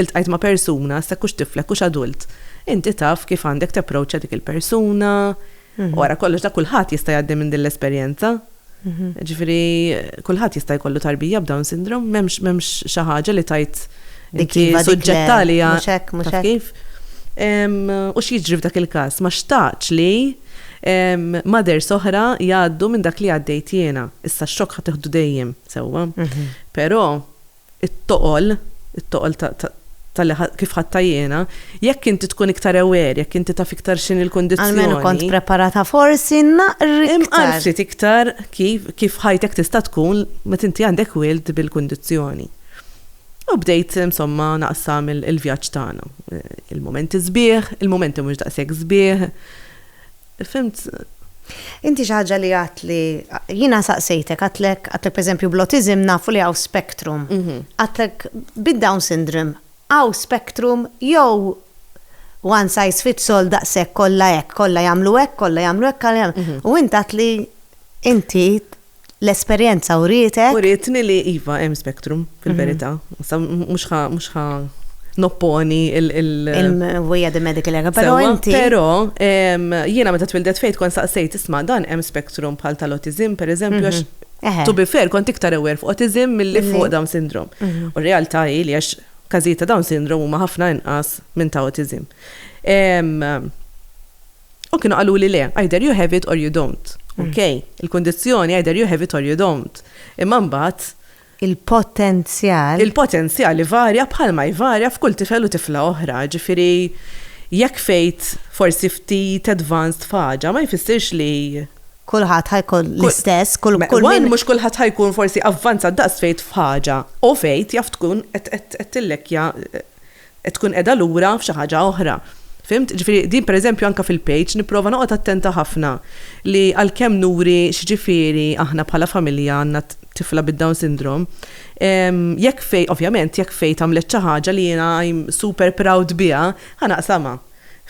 Speaker 5: iltqajt ma' persuna, issa hekk hux tiflek hux adult, inti taf kif għandek tapproaċċa dik il-persuna, Wara kollox dak kulħadd jista' jgħaddi minn din l-esperjenza. Ġifieri kulħadd jista' jkollu tarbija b'Down syndrome, m'hemmx xi ħaġa li tgħid inti suġġett għaliha. Mhux hekk, mhux hekk. Kif? U x'jiġri f'dak il-każ? Ma xtaqtx li mothers oħra jgħaddu minn dak li għaddejt jiena. Issa x-xokk ħa tieħdu dejjem, sewwa. Però it-toqol, it-toqol ta', ta', talli ħa, kif ħadtha jiena, jekk inti tkun iktar aware, jekk inti taf iktar x'inhi l-kundizzjoni. Almenu kont preparata
Speaker 1: forsi naqr iktar. Imqar ftit
Speaker 5: iktar kif, kif ħajtek tista' tkun meta inti għandek wild bil-kundizzjoni. U bdejt, insomma, naqsam il-vjaġġ tagħna. Il-mumenti sbieħ, il-mumenti mhux daqshekk sbieħ. Fhimt?
Speaker 1: Inti xi ħaġa li għedt li, jiena saqsejtek, għedtlek, għedtlek pereżempju bl-autiżm nafu li hawn spectrum. Għedtlek bid-Down syndrome hawn spectrum jew one size fits all daqshekk kollha hekk, kollha jagħmlu hekk, kollha jagħmlu hekk, u int għedt li inti. L-esperjenza urietek. Urietni li iva
Speaker 5: hemm spectrum, fil-verità. Issa mhux ħa nopponi il-. Il-mewwija
Speaker 1: di medical error, però inti. Sewwa, però
Speaker 5: jiena meta twildet Faith kont staqsejt, isma' dan hemm spectrum bħal tal-awtiżm, pereżempju, għax to be fair kont iktar aware fuq awtiżm milli fuq Down syndrome. U r-realtà hi li għax każijiet ta' Down syndrome huma ħafna inqas minn ta' awtiżm. U kienu qaluli le, either you have it or you don't. Ok, il-kundizzjoni either you have it or you don't. Imma mbagħad, Il-potenzjal.
Speaker 1: il-potenzjal ivarja bħalma
Speaker 5: jvarja f'kull tifel u tifla oħra. Ġifieri, jekk fejt forsi ftit advanced f'ħaġa ma jfissirx li, Kulħadd ħa jkun
Speaker 1: l-istess, kull kull one, min. mhux kulħadd ħa
Speaker 5: jkun forsi avvanzat daqs fejt f'ħaġa. U fejt jaf tkun qed qed qed tillekkja, qed tkun qiegħda lura f'xi ħaġa oħra. Fhimt? Jiġifieri din pereżempju anke fil-page nipprova noqgħod attenta ħafna li għalkemm nuri x'jiġifieri aħna bħala familja għandna tifla bid-Down Syndrome, jekk Faye, ovvjament, jekk Faye tagħmlet xi ħaġa li jiena I'm super proud biha, ħa naqsamha.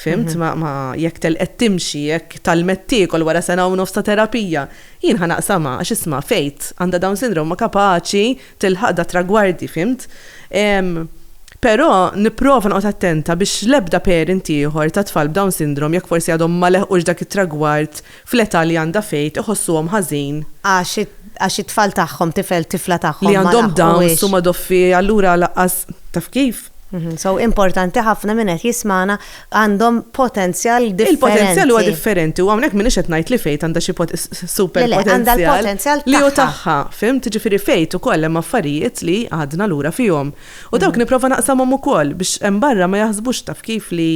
Speaker 5: Fimt, mhm. ma, ma jekk telqet timxi, jekk talmet tiekol wara sena u nofs ta' terapija, jien ħanaqsama għax isma' fejt għandha dawn sindrom ma kapaċi tilħaq da tragwardi, fimt. Però nipprova noqgħod attenta biex l-ebda parent ieħor ta' tfal b'dawn sindrom jekk forsi għadhom ma leħqux dak it-tragward fl-età li għandha Faith iħossuhom ħażin għax
Speaker 1: it-tfal tagħhom,
Speaker 5: tifel, tifla tagħhom
Speaker 1: ma laħqux.
Speaker 5: li għandhom Downs huma doffi allura lanqas taf
Speaker 1: kif. So importanti ħafna min qed jismagħna għandhom potenzjal differenti. Il-potenzjal huwa differenti
Speaker 5: u hawnhekk m'iniex qed ngħid li Faith għandha xi super potenzjal. Le le għandha l-potenzjal tagħha. Li hu tagħha, fimt? Jiġifieri Faith ukoll hemm affarijiet li għadna lura fihom. U dawk nipprova naqsamhom ukoll biex hemm barra ma jaħsbux taf kif li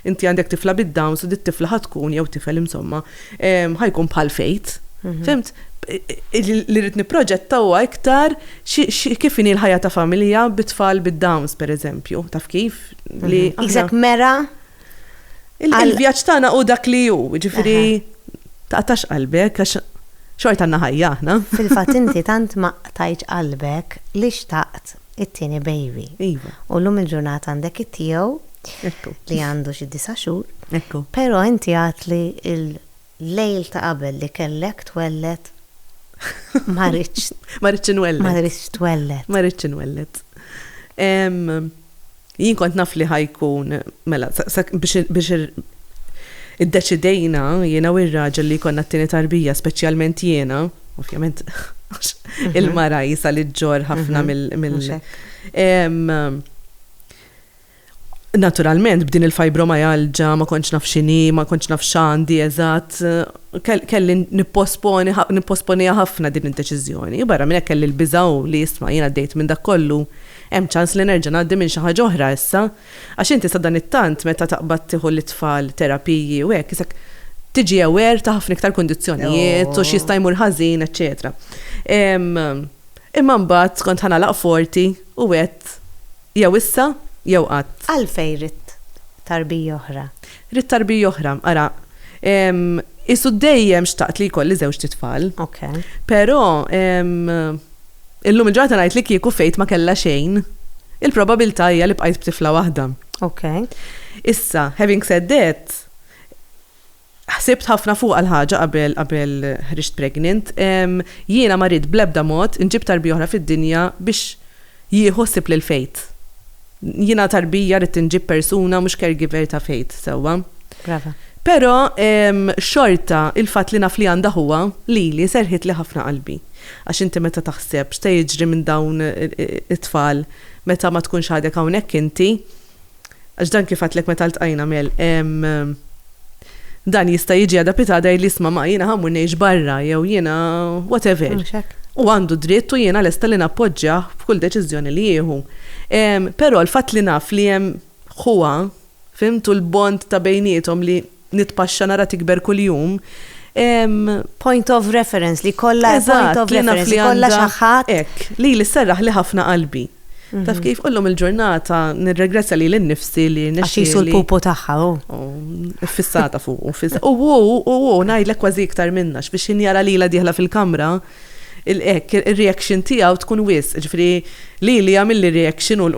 Speaker 5: Inti għandek tifla bid-Downs u dit-tifla ħa tkun, jew tifel insomma, ħa jkun bħal Fejt. Fimt? Li rrid nipproġetta huwa iktar kif inhi l-ħajja ta' familja bit-tfal bid-Downs, pereżempju. Taf kif? Li. Iżak mera? Il-vjaġġ tagħna hu dak li hu, ġifieri taqtax qalbek għax xorta għandna ħajja aħna. Fil-fatt inti tant
Speaker 1: ma qtajtx qalbek li xtaqt it-tieni baby. Iva. U llum
Speaker 5: il-ġurnata
Speaker 1: għandek it-tiegħu li għandu xi disa' xhur. Ekku. Però
Speaker 5: inti għedt
Speaker 1: li l-lejl ta' qabel li kellek twelled ma ridtx. Ma ridtx inwelled. Ma ridtx twelled. Ma ridtx
Speaker 5: inwelled. Jien kont naf li ħa jkun, mela, biex iddeċidejna jiena u r-raġel li jkollna t-tieni tarbija, speċjalment jiena, ovvjament għax il-mara jisa li ġġorr ħafna mhm. mill. Naturalment, b'din il-fibromajalġa ma konċ naf xini, ma konċ naf xandi, eżatt, kelli nipposponi ħafna din id-deċiżjoni. Barra minn kelli l-biżaw li jisma' jiena dejt minn dak kollu Hemm ċans li nerġa' ngħaddi minn xi ħaġa oħra issa, għax inti sadanittant meta taqbad tieħu lit-tfal terapiji u hekk isek tiġi aware ta' ħafna iktar kundizzjonijiet u x'jista' jmur ħażin, eċċetera. Imma mbagħad kont ħa nagħlaq forti u għedt jew issa jew qatt. Għalfejn ridt
Speaker 1: tarbija oħra? Ridt tarbija
Speaker 5: oħra. Ara, qisu dejjem xtaqt li jkolli żewġt itfal. Ok. Però illum il-ġurnata ngħid li kieku Faith ma kellha xejn, il-probabilità hija li bqajt b'tifla waħda. Ok.
Speaker 1: Issa,
Speaker 5: having said that, ħsibt ħafna fuqha l-ħaġa qabel qabel ħriġt pregnant. Jiena ma rrid bl-ebda mod inġib tarbija oħra fid-dinja biex jieħu ħsieb lil Faith. Jiena tarbija rrid inġib persuna mhux caregiver ta' Faith sewwa. Brava.
Speaker 1: Però
Speaker 5: xorta il-fatt li naf li għandha ħuha lili serħitli ħafna qalbi. Għax inti meta taħseb x'se jiġri minn dawn it-tfal meta ma tkunx għadek hawnhekk inti, għax dan kif għedtlek meta ltqajna Mel, Dan jista' jiġi adapita għadha jgħidli isma' ma jiena ħammur ngħix barra jew jiena whatever. Mhux hekk. Huwa għandu dritt u jiena lesta li nappoġġjah f'kull deċiżjoni li jieħu. Però l-fatt li naf li hemm ħuha, fhimt, u l-bond ta' bejniethom li nitpaxxa nara tikber kuljum, hemm.
Speaker 1: Point of reference, li jkollha point of reference, li jkollha xi ħadd. Eżatt, jiena naf li għandha, hekk, lili sserraħli
Speaker 5: ħafna qalbi. Taf kif illum il-ġurnata nirregrezzja li l-nifsi li nixxi. Għax jisu l-pupu
Speaker 1: tagħha u.
Speaker 5: Fissata fuq u fissata. U u u u ngħidlek kważi iktar minna x'biex injara lila dieħla fil-kamra il-ek, il-reaction tiegħu tkun wis, ġifri li li jagħmilli reaction u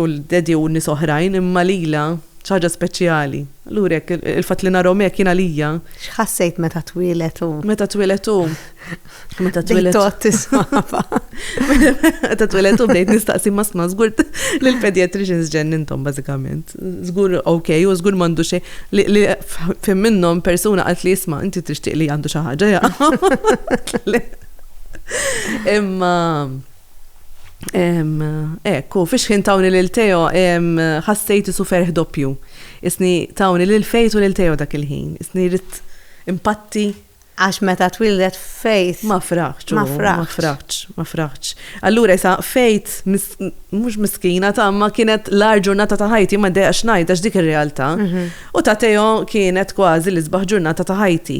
Speaker 5: l-daddy u nies oħrajn imma lila xi ħaġa speċjali. Allura hekk, il-fatt li narahom hekk jien għalija. X'ħassejt meta
Speaker 1: twieled hu? Meta twieled hu.
Speaker 5: Meta twieled. Tot tismaba. Meta twieled hu bdejt nistaqsi ma sma żgur li l-pediatricians ġen intom bażikament. Żgur ok u żgur m'għandu xejn li fim minnhom persuna qalt li jisma' inti tixtieq li għandu xi ħaġa Imma Ekk, u fix-xħin tawni lil Teo ħassejt isu ferħ doppju. Isni tawni lil fejt u lil Teo dak il-ħin. Isni rrit impatti. Għax meta
Speaker 1: twildet fejt. Ma fraħċ, ma
Speaker 5: fraħċ, ma fraħċ. Allura jisa fejt, mux miskina ta' ma kienet l-ar ġurnata ta' ħajti, ma dejja xnajt għax dik il-realta. Mhm. U ta' Teo kienet kważi l-isbaħ ġurnata ta' ħajti.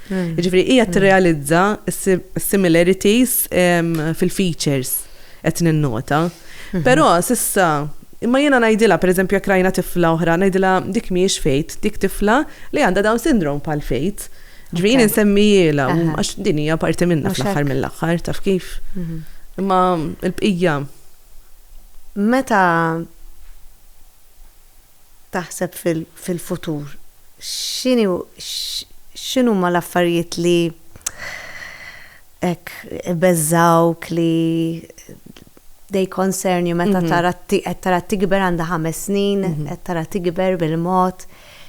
Speaker 5: Ġifri, hija tirrealizza similarities fil-features qed ninnota. Mhm. Però sissa Imma jiena ngħidilha pereżempju jekk rajna tifla oħra, ngħidilha dik mhijiex fejt, dik tifla li għandha dawn sindrom pal fejt. Ġvin insemmijila, għax din hija parti minna fl-aħħar mill-aħħar, taf kif. Mhm. Imma l-bqija.
Speaker 1: Meta taħseb fil-futur, x'inhuma l-affarijiet li hekk ibeżżgħuk li they concern you meta tara qed tara tikber għandha ħames snin, qed tara tikber bil-mod,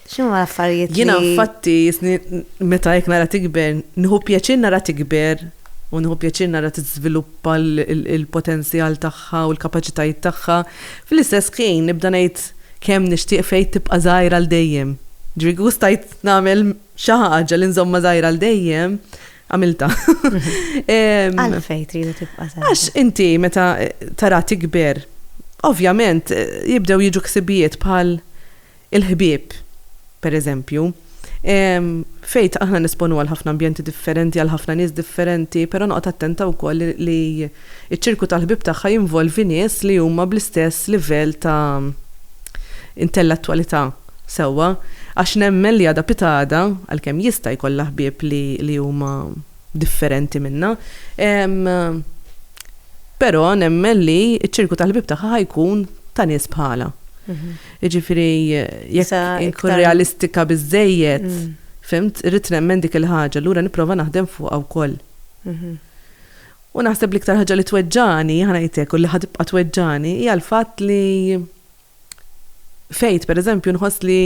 Speaker 1: x'inhuma l-affarijiet li. Jiena infatti
Speaker 5: meta hekk nara tikber, nieħu pjaċir nara tikber. u nieħu pjaċir nara tiżviluppa l-potenzjal tagħha u l-kapaċitajiet tagħha, fl-istess ħin nibda ngħid kemm nixtieq Faith tibqa' żgħira għal dejjem. Ġifieri kieku stajt nagħmel xi ħaġa li nżommha żgħira għal dejjem, għamiltha. Għala
Speaker 1: Faith tridu tibqa' żgħira? Għax inti meta
Speaker 5: tara tikber, ovvjament jibdew jiġu ħsibijiet bħal il-ħbieb, per eżempju, fejn aħna nesponu għal ħafna ambjenti differenti, għal ħafna nies differenti, però noqgħod attenta wkoll li ċ-ċirku tal-ħbieb tagħha jinvolvi nies li huma bl-istess livell ta' intellettwalità sewwa, għax nemmen li għada pitgħada, għalkemm jista' jkollha ħbieb li huma. differenti minnha. Però nemmen li ċ-ċirku tal-ħbieb tagħha ħajkun ta' nies bħala. Mhm. Jiġifieri jekk inkun realistika biżejjed, mm. fimt, irrid nemmen dik il-ħaġa, lura nipprova naħdem fuqha wkoll. Mhm. U naħseb l-iktar ħaġa li tweġġani, ħanajtek, u li ħadibqa tweġġani, hija l-fatt li Faith, per eżempju, nħoss li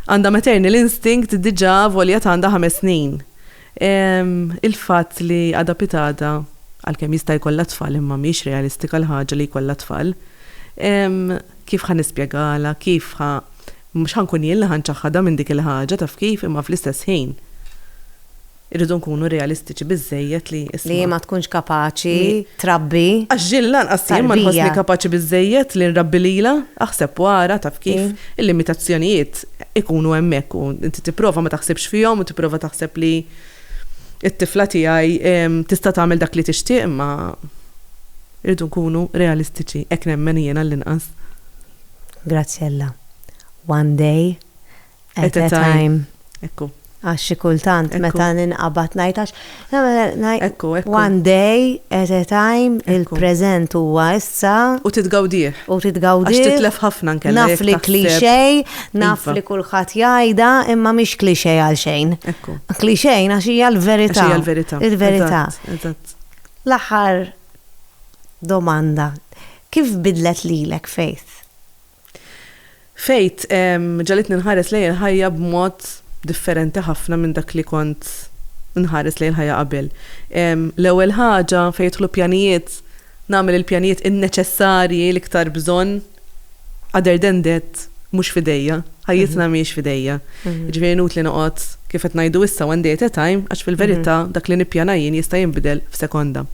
Speaker 5: għandha maternal instinct diġà volja għandha ħames snin. Il-fatt li għadha pitada, għalkemm jista' jkollha tfal imma mhix realistika l-ħaġa li jkollha tfal, kif ħa nispjegalha, kif ħa, mhux ħa nkun jien li ħa nċaħħadha minn dik il-ħaġa taf kif imma fl-istess ħin. Irridu nkunu realistiċi biżżejjed li, isma'. Li ma tkunx
Speaker 1: kapaċi trabbi. Għax Jill lanqas
Speaker 5: jien ma nħossni kapaċi biżżejjed li nrabbi lilha. Aħseb u ara, taf kif, il-limitazzjonijiet ikunu hemmhekk u inti tipprova ma taħsibx fihom u tipprova taħseb li t-tifla tiegħi tista' tagħmel dak li tixtieq imma irridu nkunu realistiċi, hekk nemmen jien għallinqas.
Speaker 1: Graziella, One day At a time. Ekku.
Speaker 5: Għax xi kultant
Speaker 1: meta ninqabad ngħid għax Ekku,
Speaker 5: ekku. one day
Speaker 1: at a time il-preżent huwa issa. U titgawdih.
Speaker 5: U titgawdih. Għax titlef ħafna nkella. Naf li klixej,
Speaker 1: naf li kulħadd jgħidha, imma mhix klixej għal xejn. Ekku. Klixej
Speaker 5: għax hija
Speaker 1: l-verità. Hija l-verità. Il-verità. Eżatt.
Speaker 5: L-aħħar
Speaker 1: domanda. Kif bidlet lilek Faith? Faith
Speaker 5: ġagħlitni nħares lejn il-ħajja b'mod differenti ħafna minn dak li kont nħares lejn il-ħajja qabel. L-ewwel ħaġa fejn jidħlu pjanijiet, nagħmel il-pjanijiet in-neċessarji l-iktar bżonn other than that mhux f'idejja, ħajjitna mhijiex f'idejja. Jiġifieri inutli noqgħod kif qed ngħidu issa one day at a time għax fil-verità dak li nippjana jien jista' jinbidel f'sekonda.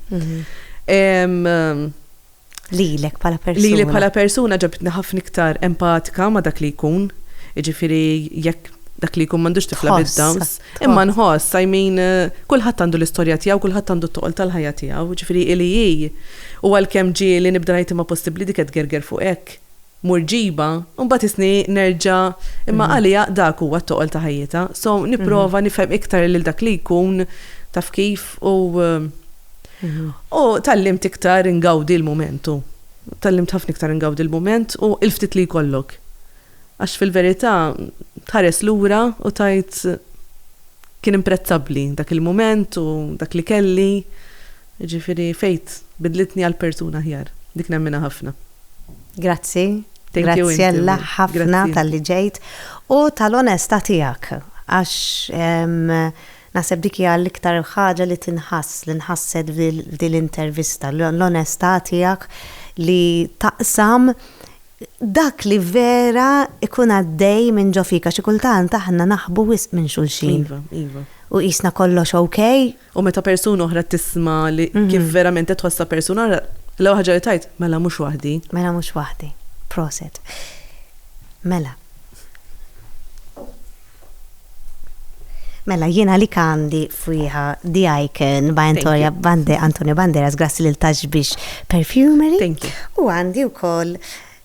Speaker 1: Lilek bħala persuna. Lili bħala persuna
Speaker 5: ġabitni ħafna iktar empatika ma' dak li jkun. Jiġifieri jekk dak li jkun m'għandux tifla bid-Downs. Imma nħoss, I mean, kulħadd għandu l-istorja tiegħu, kulħadd għandu t-toqol tal-ħajja tiegħu, jiġifieri hi li hi. U għalkemm ġieli nibda ngħid imma possibbli dik qed tgerger fuq hekk? murġiba u mbagħad isni nerġa' imma għalija dak huwa t-toqol ta' ħajjitha so nipprova nifhem iktar lil dak li jkun taf kif u u tgħallimt iktar ingawdi l-mument u tgħallimt ħafna iktar ingawdi l-mument u l-ftit li jkollok għax fil-verità tħares lura u tgħid kien imprezzabbli dak il-mument u dak li kelli. Jiġifieri faith bidlitni għal persuna aħjar. Dik nemminha ħafna. Grazzi.
Speaker 1: Grazzjella ħafna talli ġejt u tal-onestà tiegħek għax naħseb dik hija l-iktar ħaġa li tinħass, li nħasset f'din l-intervista, l-onestà tiegħek li taqsam dak li vera jkun għaddej minn ġo fik għax xi kultant aħna naħbu wisq minn xulxin. Iva, iva. U
Speaker 5: qisna kollox
Speaker 1: okej, U meta persuna
Speaker 5: oħra tisma' li kif verament qed tħossha persuna oħra, l-ewwel ħaġa li tgħid, mela mhux waħdi. Mela mhux waħdi.
Speaker 1: Proset. Mela. Mela jiena li għandi fwieħa di icon by Antonia Bande, Antonio Banderas, grassi lil Tax Biex Perfumery. U
Speaker 5: għandi wkoll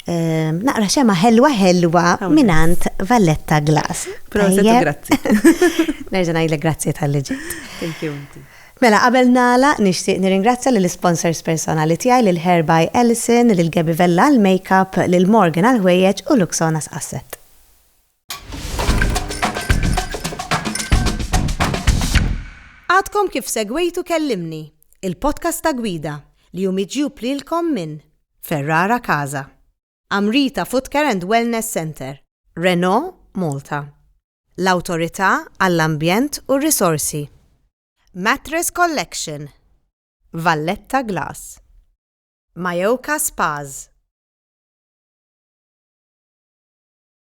Speaker 1: Naqra xema ħelwa ħelwa minant Valletta Glass. Proset, grazzi.
Speaker 5: Nerġa
Speaker 1: ngħidlek grazzi tal-li ġejt. Thank you.
Speaker 5: Mela, qabel
Speaker 1: nala, nixtieq nirringrazzja lill sponsors personali tiegħi lil Herby Ellison, lil Gabi Vella għall-makeup, lil Morgan għall-ħwejjeġ u Luxona Asset. Għadkom kif segwejtu Kellimni, il-podcast ta' gwida li hu miġjub lilkom minn Ferrara Casa, Amrita Footcare and Wellness Center, Renault Malta, l-Awtorità għall-Ambjent u r-Risorsi, Mattress Collection, Valletta Glass, Majoka Spas,